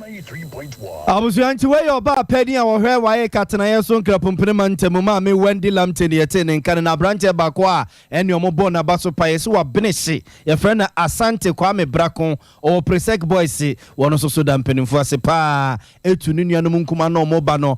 Abusua nti wei yɛ ɔbaa panin a ɔhwɛ WAEC atenaeɛ so Nkrapompene mantam mu, Maame Wendy Lamptey na yɛtee ne nka no. Na aberanteɛ baako a ɛne ɔmo bɔɔ n'aba so paeɛ sɛ wabene hye, yɛfrɛ no Asante Kwame Brako, ɔwɔ Presec Boys, ɔno nso so da mpanimfoɔ ase pa ara tu ne nuanom nkumaa ne ɔmo ba no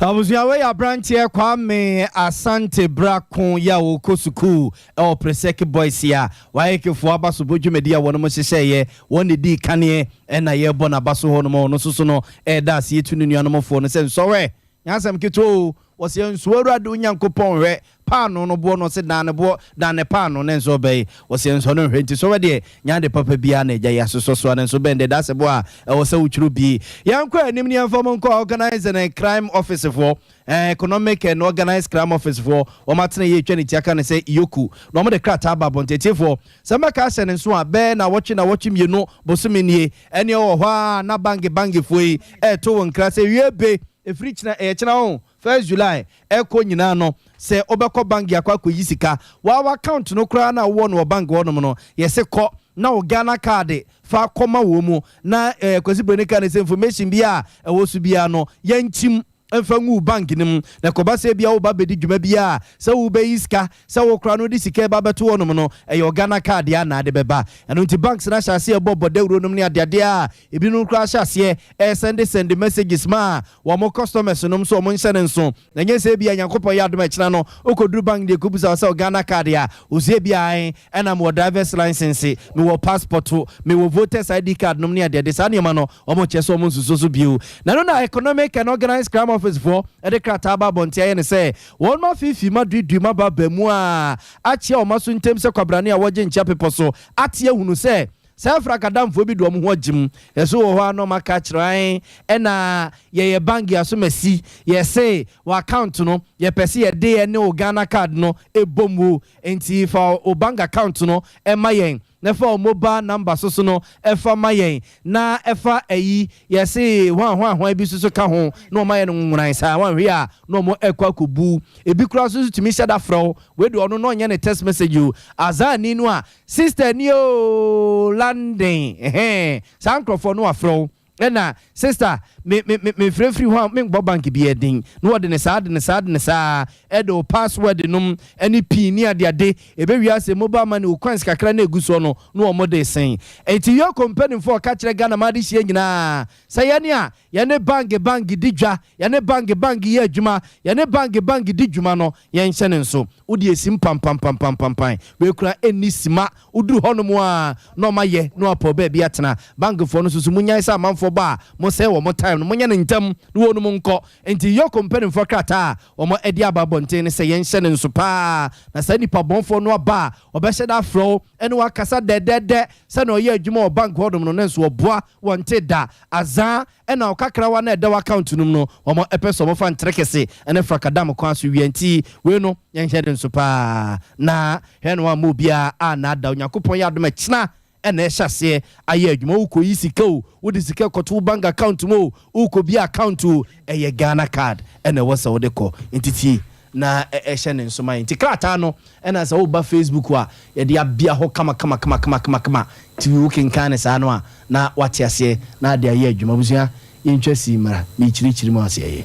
Abusua wei yɛ abranteɛ Kwame Asante Brako yi a ɔkɔ sukuu wɔ Presec Boys a WAEC foɔ abasobɔ dwumadi a wɔnom hyehyɛeɛ wɔn na ɛdii kaneɛ ɛna yɛbɔ no abaso hɔ nom a ɔno nso so no ɛda aseɛ tu ne nuanom foɔ no sɛ nsɔwɛ nyɛ asɛm ketewa o wɔseɛ nsoɔ Awurade Onyankopɔn hwɛ Paanoo no boɔ na ɔse dan ne boɔ dan ne paanoo ne nsɔ bɛn ɔse nsɔ no nhwɛ nti sɔwɛ deɛ nyɛ ade papa biaa na agya yi asosɔ soa no nso bɛn deɛ dasɛ boɔ a ɛwɔ sɛ wo twerɛ bi yɛnkɔ anim ne yɛmfa mu nkɔ organised and crime office foɔ eh, economic and organised crime office foɔ wɔn atena yɛ atwa ne tia ka ne sɛ yoku na wɔn de krataa aba abɔnten atiefoɔ sɛ mɛka ahyɛ ne nso a bɛɛ na wɔtwe na wɔtwe mmienu bosome nie ɛneɛ wɔ hɔ a na bange bangefoɔ yi ɛɛto wo nkra sɛ wie be ɛfiri kyena ɛyɛ kyena o First July ɛkɔ nyinaa no sɛ wobɛkɔ bank de akɔ akɔyi sika, w'aw account no koraa no a wowɔ no wɔ bank hɔ nom no yɛse kɔ na wo Ghana card fa kɔ ma wɔ mu na eh Kwasi Broni kaa ne sɛ information biaa a ɛwɔ so biaa no yɛnkyim mfa ngu wo bank no mu na ɛkɔba sɛ ebia woba abɛdi dwuma biaa a sɛ wobɛyi sika sɛ wo koraa no wode sika ɛba abɛto hɔ nom no ɛyɛ wo Ghana card deɛ a na ade bɛba ɛno nti banks no ahyɛ aseɛ ɛbɔ bɔ dawuro nom ne adeadeɛ a ebinom koraa ahyɛ aseɛ ɛɛ sɛnde sɛnde messages ma wɔn customers nom nso wɔn nhyɛ no nso na nyɛ sɛ ebia Nyankopɔn yɛ adom a ɛkyena no wokɔduru bank deɛ ɛkɔbusa wo sɛ wo Ghana card a ɔse ebia ae ɛna mewɔ driver's license mewɔ passport mewɔ voters ID card nom ne adeade saa nneɛma no wɔn kyɛ sɛ wɔn nsusuo so bio na ɛno na economic and organized crime office foɔ ɛde krataa aba abɔnten ayɛ no sɛ wɔn afiifii ma duidui ma ba ba mu a akyea wɔn aso ntem sɛ kwabrane a wɔgye nkyea pepɔ so ate ahunu sɛ Sɛ afra kadamfoɔ bi de wɔn ho agyim yɛso wɔ hɔ a na wɔn aka akyerɛ ae ɛna yɛyɛ bank yɛ aso masi yɛse wɔ account no yɛpɛ se yɛde ɛne wo Ghana card no ɛbɔ mu nti fa wo bank account no ɛma yɛn na fa wo mobile number soso no ɛfa ma yɛn na ɛfa ayi yɛse hwan hwan hwan bi soso ka ho na wɔn ayɛ no nwonworan saa wɔn hwe a na wɔn ɛkɔ akɔbu ebi kura soso tumi hyɛda frɛ wo wei de ɔno na ɔnyɛ ne text message o azaani no a Sister ni oo London ɛhɛn saa nkorɔfoɔ no wafrɛ wo ɛna sister me me me mefrɛ firi hɔ a me nkbɔ bank bi ɛden na wɔde ne saa de ne saa de ne saa ɛde wo password nom ɛne pin ne ade ade ɛbɛ wie asɛ mobile money wo coins kakra na ɛgu soɔ no na wɔn de sen ɛnti yoko mpɛnimfoɔ ɔka kyerɛ Ghana ma ade hyia nyinaa sɛ yɛne a Yɛne Bang Bang di dwa, Yɛne Bang Bang yɛ adwuma, Yɛne Bang Bang di dwuma no, yɛnhyɛ no nso. Wode asim pampampampampampae, W'akura nni sima, Woduru hɔnom a na ɔma yɛ na wapɔw baabi atena. Bangfoɔ no nso so, monnyae sɛ amanfoɔ ba a, mosɛe wɔn time no, monyɛ no ntɛm na wɔnom nkɔ. Enti Yorko mpanimfoɔ krataa a wɔde aba abɔnten ne sɛ yɛnhyɛ no nso pa ara, na saa nnipa bɔnfoɔ no aba a, wɔbɛhyɛ da afrɛ wo ne wo akasa dɛdɛɛdɛ. Sɛnea ɔyɛ adwuma wɔ Bang hɔnom no, nanso ɔboa. wɔnntee da, azaa na ɔkakrawa no a ɛda wo account no mu no, wɔn pɛ sɛ wɔn fa ntere kese ne frakadam kwan so wia, nti wei no yɛn nhwɛ ne nso paa na hwɛ na wɔamma obiara annaadaa wo, Nyankopɔn yɛ adom a kyena na ɛhyɛ aseɛ ayɛ adwuma, wokɔ yi sika o, wode sika kɔto wo bank account mu o, wokɔ bia account o, ɛyɛ Ghana card na ɛwɔ sɛ wode kɔ, nti tie. na ɛhyɛ ne nsomae nti krataa no na sɛ woba facebook a yɛde abea hɔ kamakamakamakama nti wo kenkan no saa no a na wate aseɛ na ade ayɛ adwuma abusua yɛntwa sii mmara mekyirikyiri mu aseɛ yɛ.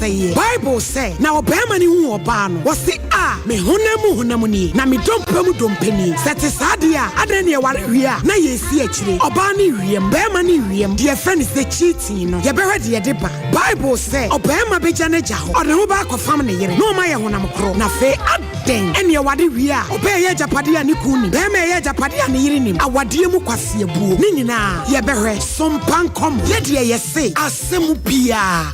sɛeɛ. Bible sɛ, Na ɔbarima no huu ɔbaa no, ɔse, A, me honam mu honam nie, na me dompe mu dompe nie. Sɛ ɛte saa deɛ a, adɛn na yɛware wie a na yɛresi akyire? Ɔbaa ne wiem, barima ne wiem, deɛ yɛfrɛ no sɛ cheating no, yɛbɛhwɛ deɛ ɛde ba. Bible sɛ, Ɔbarima bɛgya n'agya hɔ, ɔde ne ho ba akɔfam ne yere, na wɔn ayɛ honam koro. Na afei adɛn na yɛware wie a, ɔbaa ɛyɛ agyapadeɛ a ne kunu nim, barima ɛyɛ agyapadeɛ a ne yere nim? Awadeɛ mu kwaseabuo. Ne nyinaa, yɛbɛhwɛ. Sompankɔ mo. Yɛ deɛ yɛse. Asɛm biara.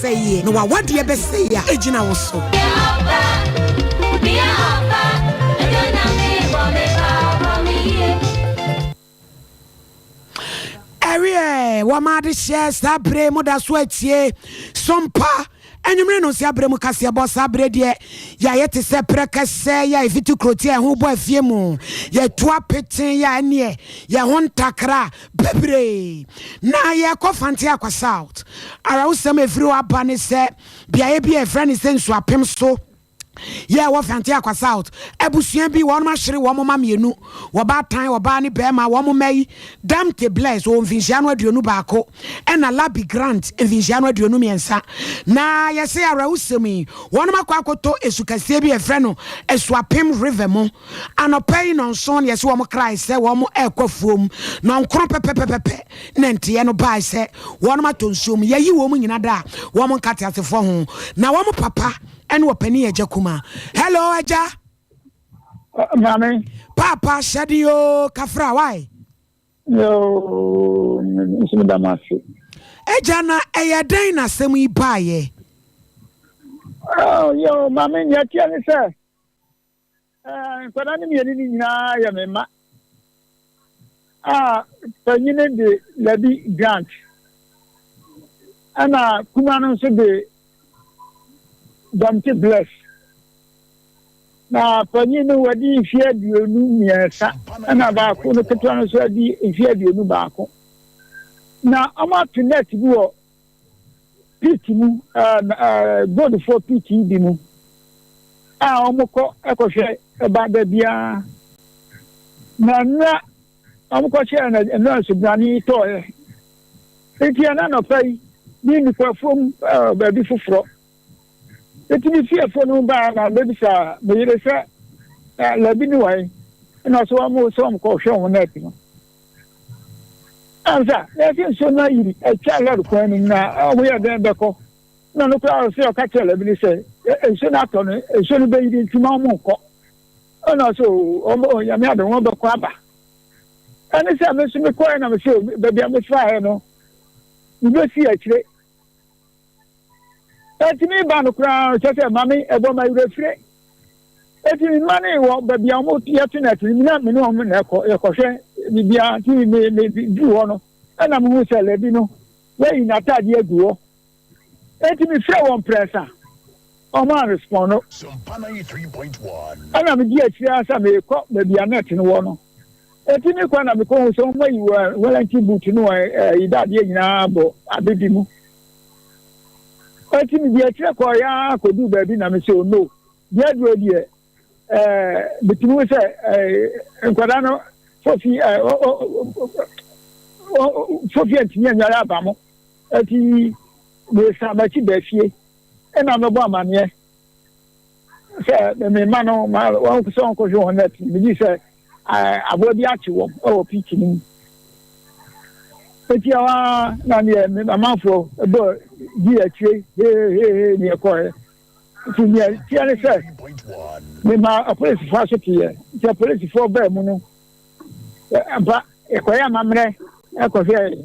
sɛeɛ, na w'awadeɛ bɛsɛe a ɛgyina wo so. ɛweɛ wɔma ade hyɛ saa berɛ mu da so atie sompa anwummere no nsia berɛ mu kaseɛbɔ saa berɛ deɛ yɛayɛ te sɛ prɛ kɛsɛ yɛ a ɛfiti kuroti a ɛho bɔ afie mu yɛtu apete yɛ a ɛneɛ yɛn ho ntakra Bebree na yɛkɔ Fante Akwa South. Awerɛhosɛm a ɛfiri hɔ aba ne sɛ beaeɛ bi a ɛfrɛ ne sɛ Nsuapem so yɛ wɔ Fante Akwa South. Abusua bi wɔn ahyere wɔn mma mmienu, wɔbaatan, ɔbaa ne barima, wɔn mma yi, Damte Bless ɔwɔ mfinhyia no aduonu baako ɛna Labi Grant mfinhyia no aduonu mmiɛnsa. Na yɛse awerɛhosɛm yi wɔn akɔ akɔtɔ esu kɛseɛ bi a ɛfrɛ no Asuapem River mu. Anɔpa yi nnɔnson na yɛse wɔkrae sɛ wɔn rekɔ afuom. Nnɔnkron pɛpɛpɛpɛ na nteɛ no bae sɛ wɔnom atɔ nsuo mu. Yɛayi wɔn nyina daa wɔn nkateasefoɔ ho. Na wɔn papa ne ɔpanin yɛ Agya Kuma. Hello, Agya. Maame. Paapa, hyɛden oo, kafra, why? Yoo, nso meda mo ase. Agya, na ɛyɛ dɛn na asɛm yi baeɛ? Yoo, maame, nea ɛteɛ ne sɛ, Nkwadaa no mmienu no nyinaa yɛ me mma, a panyin de Labi Grant, ɛna kuma no nso de Dɔmte Bless. Na panyin no wadi mfe aduonu mmiɛnsa, ɛna baako no ketewa no nso adi mfe aduonu baako. Na wɔato net bi wɔ pit mu goldfoɔ pit yi bi mu a wɔkɔ ɛkɔhwɛ ɛba da biara na nnura wɔkɔhyɛɛ na nnura nsubrane yi tɔɔeɛ nti ɛna nɔpa yi ne nnipafoɔ mu baabi foforɔ Enti me fiefo no baa na mebisa me yere sɛ, Na Labi ne wan? Ɛna ɔsɛ wɔn sɛ wɔn kɔ hwɛ wɔn nɛɛt no. Ansa, na yɛsɛ nsuo no ayiri atwa lɔre kwan no mu na wɔn yɛ dɛn bɛkɔ. Na no koraa ɔsɛ ɔka kyerɛ Labi no sɛ, nsuo no atɔ no, nsuo no bɛyiri nti ma wɔn nkɔ. Ɛna ɔsɛ wɔn bɛ onyame ade wɔn bɛkɔ aba. Ɛne sɛ me nso mekɔɛ na mesɛ baabi a mefaaɛ no, mebɛsi akyire. ɛtumi ba no koraa kyɛ sɛ ma me ɛbɔ ma werɛ fire ɛti me mma ne wɔ baabi a wɔn yɛte na ɛte me na me ne wɔn na ɛkɔ ɛkɔhwɛ biribiara nti me me me du hɔ no ɛna me hu sɛ lɛbi no wɔayi n'ataade agu hɔ ɛti me frɛ wɔn prɛsa wɔn a respond no ɛna me di akyire asa me kɔ baabi a na ɛte no wɔ no. Enti me kɔ na mekɔhu sɛ wɔn ayi wɔn wɔlɛnti buutu ne wɔn ayi dadeɛ nyinaa abɔ ade bi mu. Enti mede akyire kɔɔ ya kɔduu baabi na mesɛ o no, deɛ aduro deɛ ɛɛ metumi hu sɛ ɛɛ nkwadaa no fofi ɛɛ o o o fofi ntumi anware aba mo. Enti mesan m'akyi baa fie ɛna mebɔ amaneɛ sɛ mema no ma wɔn sɛ wɔn kɔhwɛ wɔn nɛt megye sɛ aboa bi akye wɔn wɔ pit no mu. Eti ɛhɔ ara na neɛ amanfoɔ bɔ di akyire hehehehe neɛ kɔɛ. Nti neɛ teɛ ne sɛ mema apolisifoɔ asoteɛ nti apolisifoɔ baa mu no ampa ɛkɔyɛ amammerɛ ɛkɔhwɛɛ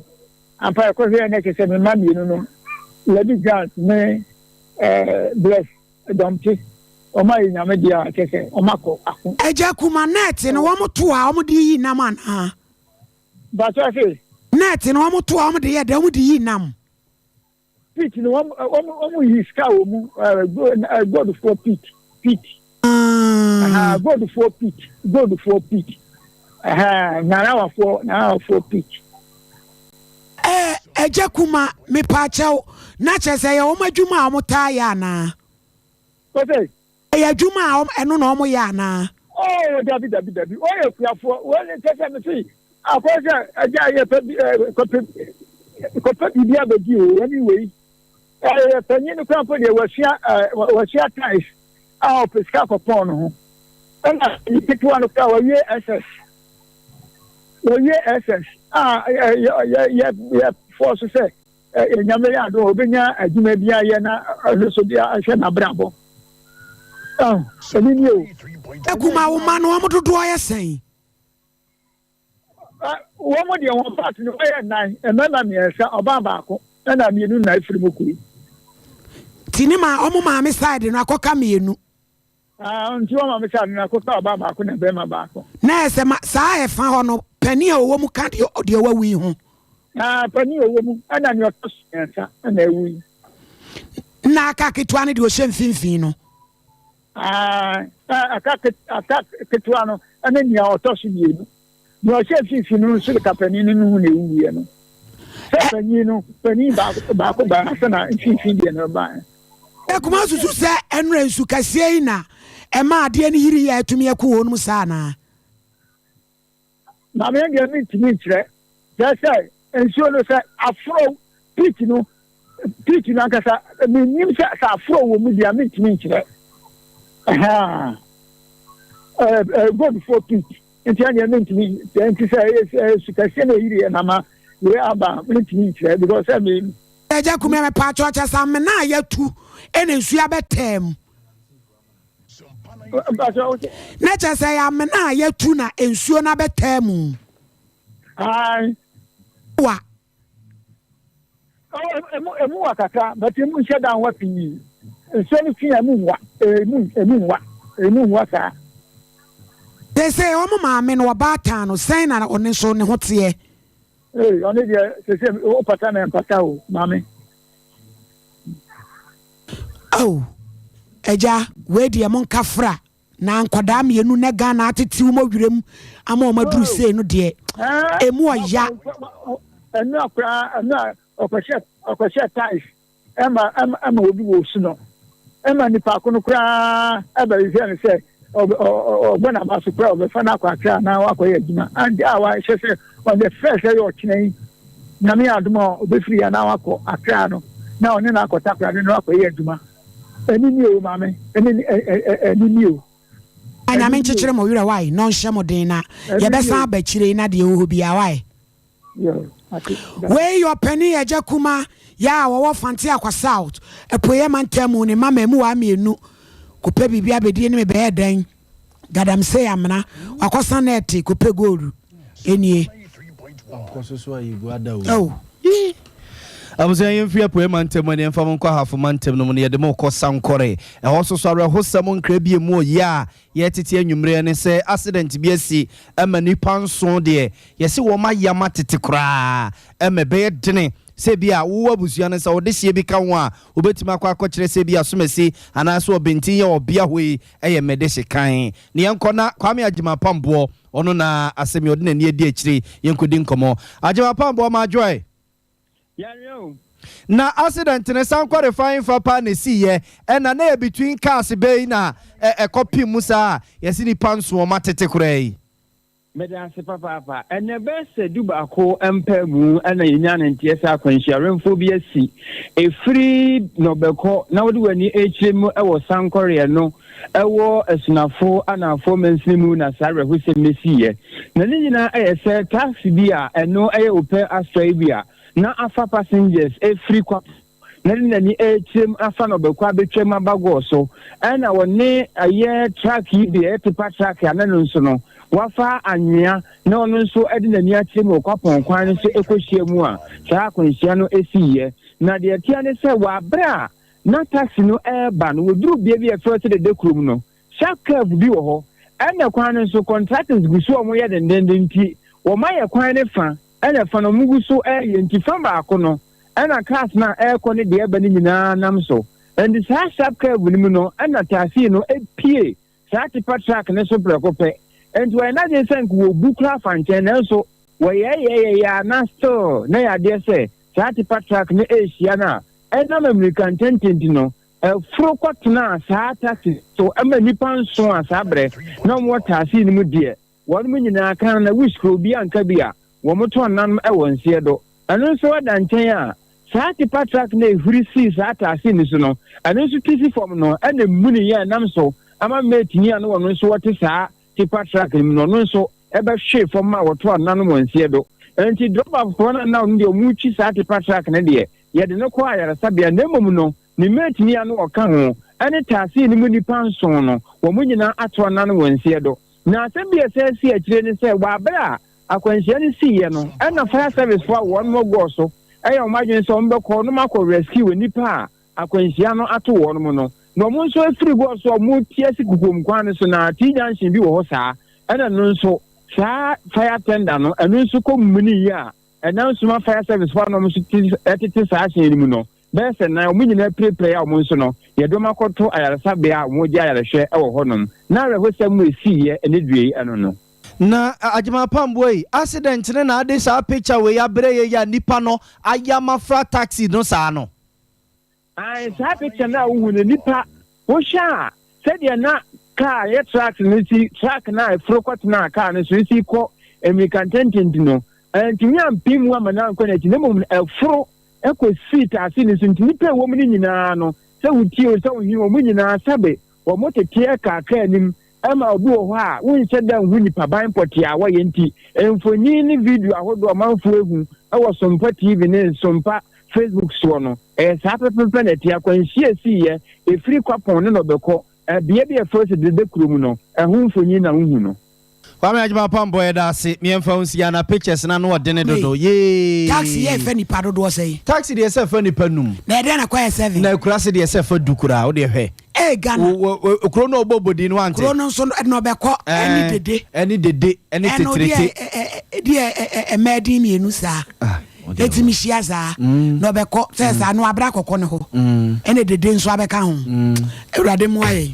ampa ɛkɔhwɛɛ na ɛkyɛ sɛ mema mmienu no Lady Grant ne ɛɛ Bless Ɛdɔm te. Wɔn ayɛ nyame deɛ a kyɛ sɛ wɔn akɔ ako. Agya kuma net no wɔn to a wɔn de yi nam anaa. Bàtò ase. Net no wɔn to a wɔn de yɛ dɛ wɔn de yi nam. Pit no wɔn wɔn wɔn yi sika wɔ mu ɛɛ goldfoɔ pit pit. Goldfoɔ pit goldfoɔ pit. Ɛhɛn, Narawafoɔ, Narawafoɔ peak. Ɛɛ, Agya Kuma, mepaakyɛw, na kyerɛ sɛ ɛyɛ wɔn adwuma a wɔtaa yɛ anaa? Wɔsɛ? Ɛyɛ adwuma a wɔn, ɛno na wɔyɛ anaa? Oo, dabi, dabi, dabi, wɔyɛ akuafoɔ, wɔn kyerɛ sɛ mese, akɔyɛ sɛ agya yɛ pɛ bi, ɛɛ, kɔpɛ, kɔpɛ biribi abɛdi o, wɔne wei. ɛyɛ panyin no kora mpo deɛ wasua ɛɛ wasua tais a ɔpɛ sika kɔpɔn no ho ɛna ne ketewa no kora wawie ss wawie ss a yɛ yɛ yɛ yɛ fɔɔ so sɛ ɛɛ nyame yɛ ado obenya adwuma bi ayɛ na ɛno so de ahwɛ n'abrabɔ ɛho ɛni ni o. ekuma wo ma no wɔn dodoɔ yɛ sɛn. wɔn deɛ wɔn part no wɔyɛ nnan mmarima mmiɛnsa ɔbaa baako ɛna mmienu na efiri mu kuro yi. ti ne ma wɔn maame side no akɔka mmienu. Ah, nti wɔn maame side no akɔka ɔbaa baako na bɛrima baako. na ɛsɛ ma saa ɛfa hɔ no panin a ɔwɔ mu ka deɛ deɛ wawu yi ho. Ah, panin a ɔwɔ mu ɛna nea ɔtɔ so mmiɛnsa ɛna ewu yi. na aka ketewa no deɛ ɔhyɛ mfimfini no. Aane, aka aka ketewa no ne nea ɔtɔ so mmienu. Nea ɔhyɛ mfimfini no nso de kapanin no ho na ɛwuiɛ no. Sɛ panyin no, panyin baako baako baa na sɛ na mfimfini deɛ no baa. Akuma susu sɛ ɛnora nsu kɛseɛ yi na ɛma adeɛ no yiri yɛ atumi ɛko wɔnom saa anaa? Na me deɛ mentumi nkyerɛ kyerɛ sɛ nsuo no sɛ aforɔ pitch no pitch no ankasa menim sɛ sɛ aforɔ wɔ mu deɛ mentumi nkyerɛ goldfoɔ pitch nti ɛneɛ mentumi sɛ nti sɛ sukɛseɛ no ɛyiriɛ na ma yɛ aba mentumi nkyerɛ because sɛ me agya kumɛ mepaakyɛ ɔkyɛ sa mena yɛtu ɛna nsuo abɛtaa mu Na kyerɛ sɛ ɛyɛ amena a yɛatu na nsuo no abɛtaa mu. Ae. Wa. Emu emu wa kakra but emu nhyɛ da nwa pii. Nsuo no fi a emu nwa emu emu nwa emu nwa saa. Te sɛ wɔn maame no ɔbaatan no sɛn na ɔne nso ne ho teɛ. Ee, ɔno deɛ sese wopata na ɛmpata o, maame. Ao, agya, wei deɛ monka fra na nkwadaa mmienu na Ghana atete wɔn ɔwerɛ mu ama wɔn aduru oh. sei no deɛ ɛmu ɔya. Ɛnu akora ɛnu a ɔkɔhyɛ ɔkɔhyɛ tais. ɛma ɛma ɛma obi wɔ osu no ɛma nipa ko no koraa ɛbɛhwehwɛ no sɛ ɔbɛ ɔbɔ n'aba so koraa ɔbɛfa no akɔ akra anaa wakɔyɛ adwuma ante a wahyɛ sɛ on the first ɛyɛ ɔkyena yi nyame adom a ɔbɛfiri yɛ anaa wakɔ akra no na ɔne no akɔ takora ne no akɔyɛ adwuma ɛne nie o maame ɛne ɛne nie o nyame nkyekyere mo werɛ wae na ɔnhyɛ mo den na yɛbɛsan aba akyire na deɛ ɛwɔ hɔ biara wae Wei yɛ ɔpanin agya kumaa yɛ a ɔwɔ Fante Akwa South apueɛ mantam mu ne mma mmamuwaa mmienu kɔpɛ biribi abɛdie ne me bɛyɛ dɛn Gadamsey Amena wakɔ sa nɛɛte kɔpɛ goolu nie oh. abusua yɛn fi apueɛ mantam mu ne yɛmfa mo nkɔ ahafo mantam no mu ne yɛde mo kɔ sankɔre ɛhɔ soso awerɛhosɛm nkra bie mu ɔyɛ a Yɛ tete anwummerɛ ne sɛ accident bi asi ma nnipa nson deɛ yɛse wɔn ayam atete koraa ma ɛbɛyɛ dene sɛ bi a wowɔ abusua no sɛ ɔdehyeɛ bi ka ho a wobɛtumi akɔ akɔkyerɛ sɛ bi a Asomasi anaasɛ Ɔbɛntin yɛ ɔbea hɔ yi yɛ Medehye kan na yɛnkɔ na Kwame Agyemapamboɔ ɔno na asɛm yi ɔde n'ani adi akyire yi yɛnkɔdi nkɔmmɔ Agyemapamboɔ Madwoe Yare o. Na accident no san kɔ refine fa paa na esii yɛ ɛna na yɛ between cars bɛyi na ɛ ɛkɔ pin mu saa yɛsi nipa nso wɔn atete koraa yi. Meda ase papaapa. Ɛnna ɛbɛyɛ sɛ du baako mpaemu na yɛnyaa no nteɛ sɛ akwanhyia werɛmfoɔ bi asi. Ɛfiri Nɔbɛkɔ na wode w'ani rekyerɛ mu wɔ Sankɔreɛ no, Ɛwɔ Asunafo Anaafoɔ mansini mu na saa awerɛhosɛm no siiɛ. Na ne nyinaa ayɛ sɛ taxi bi a ɛno yɛ Opel Astra yi bi a na afa passengers afiri Kwapo na de n'ani rekyerɛm afa na ɔbɛkɔ abɛtwam aba Gɔɔ so. Ɛna wɔne ɛyɛ truck yi bi a ɛyɛ tipa truck a na ɛno nso no wafa anwea na ɔno nso de n'ani akyerɛm wɔ Kwapɔn kwan no so rekɔhyia mu a saa akwanhyia no siiɛ. Na deɛ ɛteɛ ne sɛ wɔ aberɛ a na taxi no reba no, wɔduruu bea bi a ɛfrɛ sɛ Dede kurom no, sharp curve bi wɔ hɔ. Ɛnna kwan no nso, contractors gu so a wɔyɛ dendenden nti, wɔayɛ kwan no fã, ɛnna fã no wɔgu so reyɛ nti, fã baako no na cars no a ɛrekɔ ne deɛ ɛreba no nyinaa nam so. Enti saa sharp curve no mu no na taxi no pue saa tipa truck no so prɛko pɛ. Enti wɔyɛ n'adwene sɛ anka wɔbu koraa afa nkyɛn, nanso wɔyɛɛyɛɛyɛɛ ara na still na ɛyɛ adeɛ sɛ saa tipa truck no rehyia no a ɛnam ammirika ntɛntɛ nti no ɛforo kɔtenaa saa taxi so ma nnipa nson a saa berɛ na wɔwɔ taasii no mu deɛ Wɔnom nyinaa kan na wuskuro bi anka bi a wɔtɔn nanom wɔ nseɛ do. Ɛno nso da nkyɛn a, saa tipa truck no a ehuri sii saa ataase no so no, ɛno nso ti si fam no na emuni yɛ nam so ama mate a na wɔn nso wɔte saa tipa truck no mu no, ɔno nso bɛhwee fam ma wɔtɔɔ nanom wɔ nseɛ do. Enti drɔba foforɔ no a na ɔno deɛ wɔretwi saa tipa truck no deɛ, yɛde no kɔɔ ayaresabea na mmom no, ne mate a na ɔka ho ne taase no mu nnipa nson no, wɔn nyinaa atɔɔ nanom wɔ nseɛ do. Na asɛm bi a ɛsan sii akyire ne sɛ, wɔ bere a akwanhyia no siiɛ no, ɛnna fire service foɔ a wɔn mo gɔɔ so yɛ wɔn adwene sɛ wɔn bɛkɔ nom akɔ rescue nnipa a akwanhyia no ato wɔn mo no, na wɔn nso afiri gɔɔ so a wɔn reti asi kukuom kwan no so, na T junction bi wɔ hɔ saa, ɛnna ɛno nso saa fire tender no, ɛno nso kɔ mini yi a ɛnam soma fire service foɔ a na wɔn nso tete saa hyɛn no mu no, Bɛyɛ sɛ nnan, wɔn nyinaa pirapirae a wɔn nso no, yɛde wɔn akɔto ayaresabea a wɔgye ayarehwɛ wɔ hɔnom. Ná awerɛhosɛm a esiiɛ ne deɛ yi ɛno no. Na Agyemapam woi, accident ne na ade saa picture woi abrɛ yɛ yi a nipa no ayɛ ama fra taxi no saa no? Ae, saa picture no a wohu no, nipa. Wohwɛ a, sɛdeɛ na kaa a ɛyɛ tracks no si, track no a ɛforo kɔtena kaa no so si kɔ mmirikantentente no, antumi ampem mu amma no ankɔ n'akyi, na mmom ɛforo kɔsii taase no so, nti nnipa a ɛwɔ mu no nyinaa no, sɛ wotie o, sɛ wohwɛ wɔn nyinaa sɛbe wɔteteɛ kaa kaa anim Ɛma obi wɔ hɔ a wonhyɛ da nhu nipaban pɔtee a wɔyɛ nti, mfoni ne video ahodoɔ a ɔmanfoɔ ahu wɔ Sompa TV ne Sompa Facebook soɔ no, ɛyɛ saa pɛpɛpɛ na ɛte. Akwanhyia siiɛ, ɛfiri Kwapɔn ne Nɔbɛkɔ, bea bi a ɛfrɛ sɛ Dede kuro mu no, ɛho mfoni na wohu no. Kwame Agyemang Apampong yɛda ase me yɛmfa wo nsi ana pictures no ano ɔdene dodo yee. Taxi yɛ ɛfa nipa dodoɔ sɛn. Taxi deɛ ɛsɛ ɛfa nipa num. Na ɛdɛn na kɔ yɛ seven. Na akurase deɛ ɛsɛ ɛfa du koraa wodeɛ hwɛ. ɛɛ ghana kuro no ɔbɔ bɔdi no ante kuro no nso ɛna ɔbɛkɔ ɛne dede ɛne dede ɛne tetirete ɛno deɛ ɛmɛɛ din mmienu saa ɛti mi hyia saa na ɔbɛkɔ sɛ saa no abira kɔkɔ ne hɔ ɛne dede nso abɛka ho awurade mu ayɛ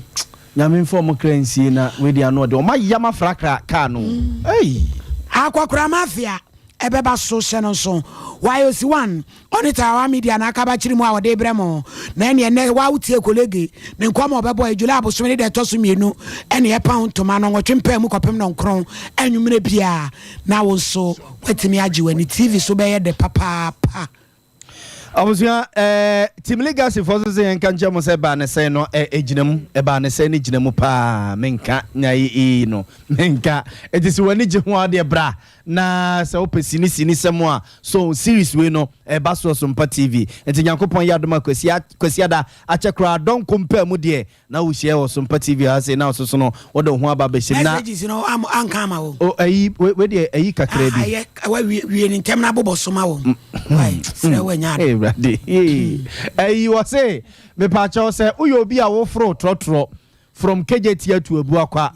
nyame nfa ɔmo kra nsie na wei deɛ ano ɔde ɔmo ayam afrakra kaa no akɔkora mafia ɛbɛba so hyɛ no nso. Why osi one ɔne Tarawa media na akaba kyiri mu a ɔde brɛ mo na ɛneɛ nɛ wa wotie kolege ne nkɔm a ɔbɛbɔ ɛ July abosome ne da ɛtɔ so mmienu ɛne ɛpa ho ntoma no nwɔtwe mpaa mu kɔpem nɔnkron anwummerɛ biaa na wo nso watumi agye w'ani TV so bɛyɛ dɛ papaapa. Abusua, ɛɛ Team Legacy fɔ so sɛ yɛn nka nkyɛn mo sɛ baa ne sɛn no ɛɛ gyina mu, ɛbaa ne sɛn no gyina mu paa, me nka nya yi ii no, me nka. Eti sɛ w'ani gye ho a ɔdeɛ bra, na sɛ wopɛ sini sini sɛm a, so series wei no ɛɛba so wɔ Sompa TV. Eti Nyankopɔn yɛ adom a Kwasi Kwasiada akyɛ koraa dɔnko mpaa mu deɛ Na wo hyia wɔ sompa TV ha sei na wo soso no wo de wo ho aba abɛhyɛ mu na. Messages no am anka ama wɔn. O ayi we we deɛ ayi kakra ah, bi. Ah ayɛ wa wie wie ne ntɛm na abobɔ soma wɔn. Mm, mm, Wai mm. srɛ wɔ nya ade. Ee brade ee ayi wɔ se mepaakyɛw sɛ woyɛ obi a woforo trɔtrɔ from kejeti atu abu akwa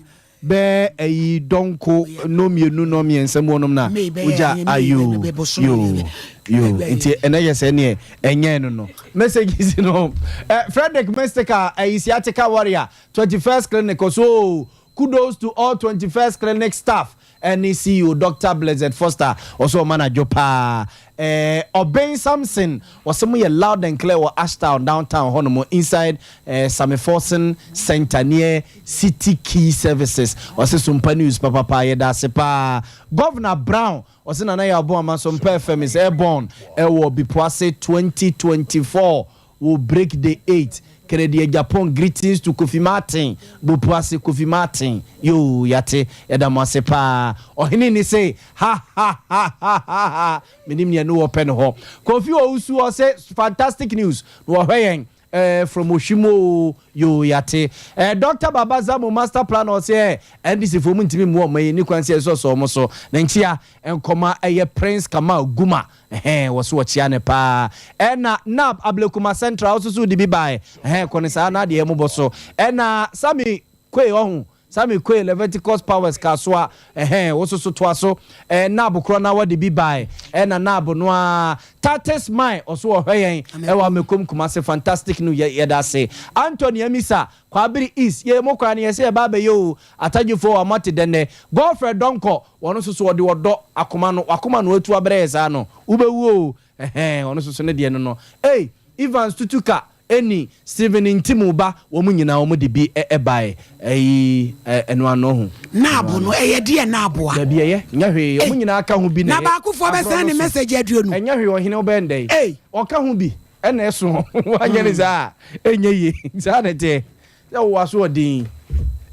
Bɛ ɛyi dɔnko nɔ mienu nɔ miɛnsa mu ɔnom na ɔgya a yoo yoo yoo nti ɛnɛ yɛ sɛ neɛ ɛnyɛɛ no no messages no eh, Frederick Mystica ɛyi sciatica warrior 21st clinic ɔso oo kudos to all 21st clinic staff ɛne CEO Doctor Blessed Foster ɔso ɔma no adwo paa Eh Obeng Samson wɔse mo yɛ loud and clear wɔ Ashtown downtown hɔ nom inside eh Same Forson Center near City Key Services wɔse Sompa News papapaa yɛdaase paa Governor Brown wɔse Nana Yaw Boamah Sompa FM is airborne ɛwɔ Bipoase 2024 Wo break day eight kɛrɛ deɛ Japan greetings to Kofi Martin bopu ase Kofi Martin yoo yate yɛda mo ase paa ɔhene ni se ha ha ha ha ha ha menim neɛ ne wɔ pɛ ne hɔ Kofi Owusu hɔ se fantastic news na wɔhwɛ yɛn eh, from Ohwim oo yoo yate eh, Doctor Baba Zamo master planner ɔse eh, NDC foɔ mu ntimi mmoa ɔma yi ni kwan se ɛsɔsɔ ɔmo so ne nkyea nkɔma ɛyɛ Prince Kamal Guma Ɛhɛɛ wɔso wɔkyea no paa. Ɛna Nab Ablekuma Central ɔso so ɔde bi baɛ. Ɛhɛɛ kɔ no saa na adeɛ mo bɔ so. Ɛna Sammy Quay ɔho Sammy Quay Leviticus Powers Kasoa ɛhɛɛ woso so toa so. Ɛɛ Nab korɔ na wɔde bi baɛ. Ɛna Nab no aa Tatis Mai ɔso ɔhwɛ yɛn ɛwɔ Amekom Kumasi Fantastic no yɛ yɛda ase. Anthony Amisa Kwabere East, Yei mo kwan no yɛsɛ yɛba abɛyɛ oo, Atadwefo a moate dɛn nɛ? Godfred Donkor, Ɔno nso so ɔde ɔdɔ, akoma no, wakoma no atu abrɛ yɛ saa no, wobɛwu oo, ɛhɛɛ, ɔno nso so ne deɛ no no, ei, Evans Tutuka, Ɛnni, Stephen Ntimu ba, wɔn nyinaa wɔn de bi baeɛ, ɛyi, ɛno ano ho. Naabu no, ɛyɛ deɛ naabu a. Dabi, ɛyɛ, nyɛ hwee, wɔn nyinaa ka ho bi na ɛyɛ, aborɔ no so, ɛnyɛ hwee, ɔhene wobɛyɛ no dɛn, ɔka ho bi. Ɛna ɛso woanyɛ no saa a, ɛnyɛ yie. Saa na ɛteɛ. Sɛ wowɔ asoɔden,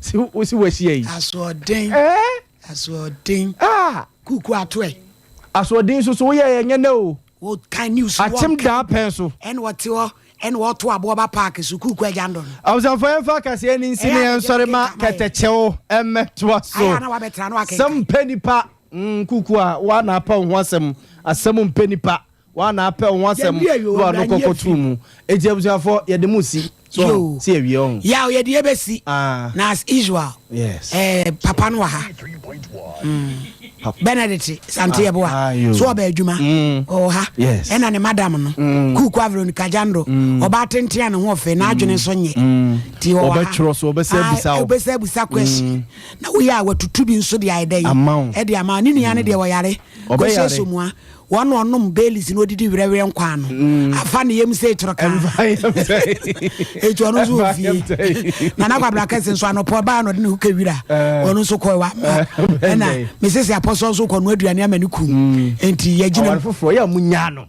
si wo si wahyia yi. Asoɔden. Ɛɛ. Asoɔden. Ah. Kuku ato ɛ. Asoɔden nso so woyɛ ɛnyɛ nɛ o. Wokan news wɔn. Akyem daa pɛn so. Ɛna wɔte hɔ ɛna wɔto aboɔ ba paaki so kuku agya ndɔ no. Abusanfoɔ yɛn fa kaseɛ ni nsi ne yɛn sɔre ma kɛtɛkyɛw ɛmɛ to aso. Ayɛ ana wabɛtena no akɛnkɛn. Sɛm mpɛ nipa. Mm, kuku a wana apa ho asɛm asɛm mpɛ nipa Wa na apɛ wo ho asɛm na wa no kɔ kɔ tu mu eti abusuafo yɛ de mu si so ho si yɛ wie ɔho. Yaw yɛ de yɛ bɛ si na as usual ɛɛ papa no wɔ ha mm Benedict sante yɛ boa so ɔbɛ adwuma ɔwɔ ha ɛna ne madam no kuku averoni kajando ɔba atenten a ne ho ɔfɛ na adwene nso nyɛ ti ɔwɔ ha ɔbɛtwerɛ so ɔbɛsɛ abusa o ɔbɛsɛ abusa question na woyɛ a watutu bi nso de ayɛ dɛ ɛde ama ne nua no deɛ ɔyare kɔsɛ somua Wɔn na ɔnom Baileys na ɔdidi werɛwerɛ nkwa ano. Mm. Afa ne yam sɛ etoro kaa. Etu ɔno nso wɔ fie. Nana Kwabena Kɛse nso anɔpɔ baa na ɔde ne ho kɛ wira. Eh. Ɔno nso kɔɔ wa mma. Eh, Ɛna mesese apɔsɔ nso kɔ no aduane ama ne kun. Mm. Enti yɛgyina. Awari foforɔ yɛ a munya no.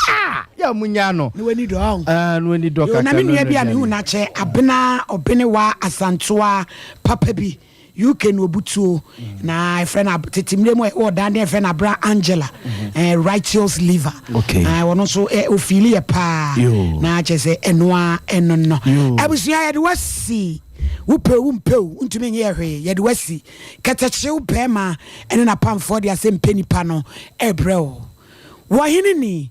Ah! Yɛ a munya no. Ne wani dɔ ɔn. Ah, ne wani dɔ kakra. Na me nua bi a mehu n'akyɛ abena ɔbene wa asantoa papa bi. UK no obutuo na ɛfrɛ no tete mmerɛ mu wɔ dan deɛ ɛfrɛ no abra Angela righteous liver ɔno nso ofili yɛ paa na kyerɛ sɛ ɛnoa ɛno no abusua yɛde wasi wopɛ wo mpɛ wo ntumi nyɛ hwee yɛde wasi kɛtɛkyew bɛrima ɛne napamfoɔ de asɛ mpɛ nipa no ɛbrɛ wo wɔhene ni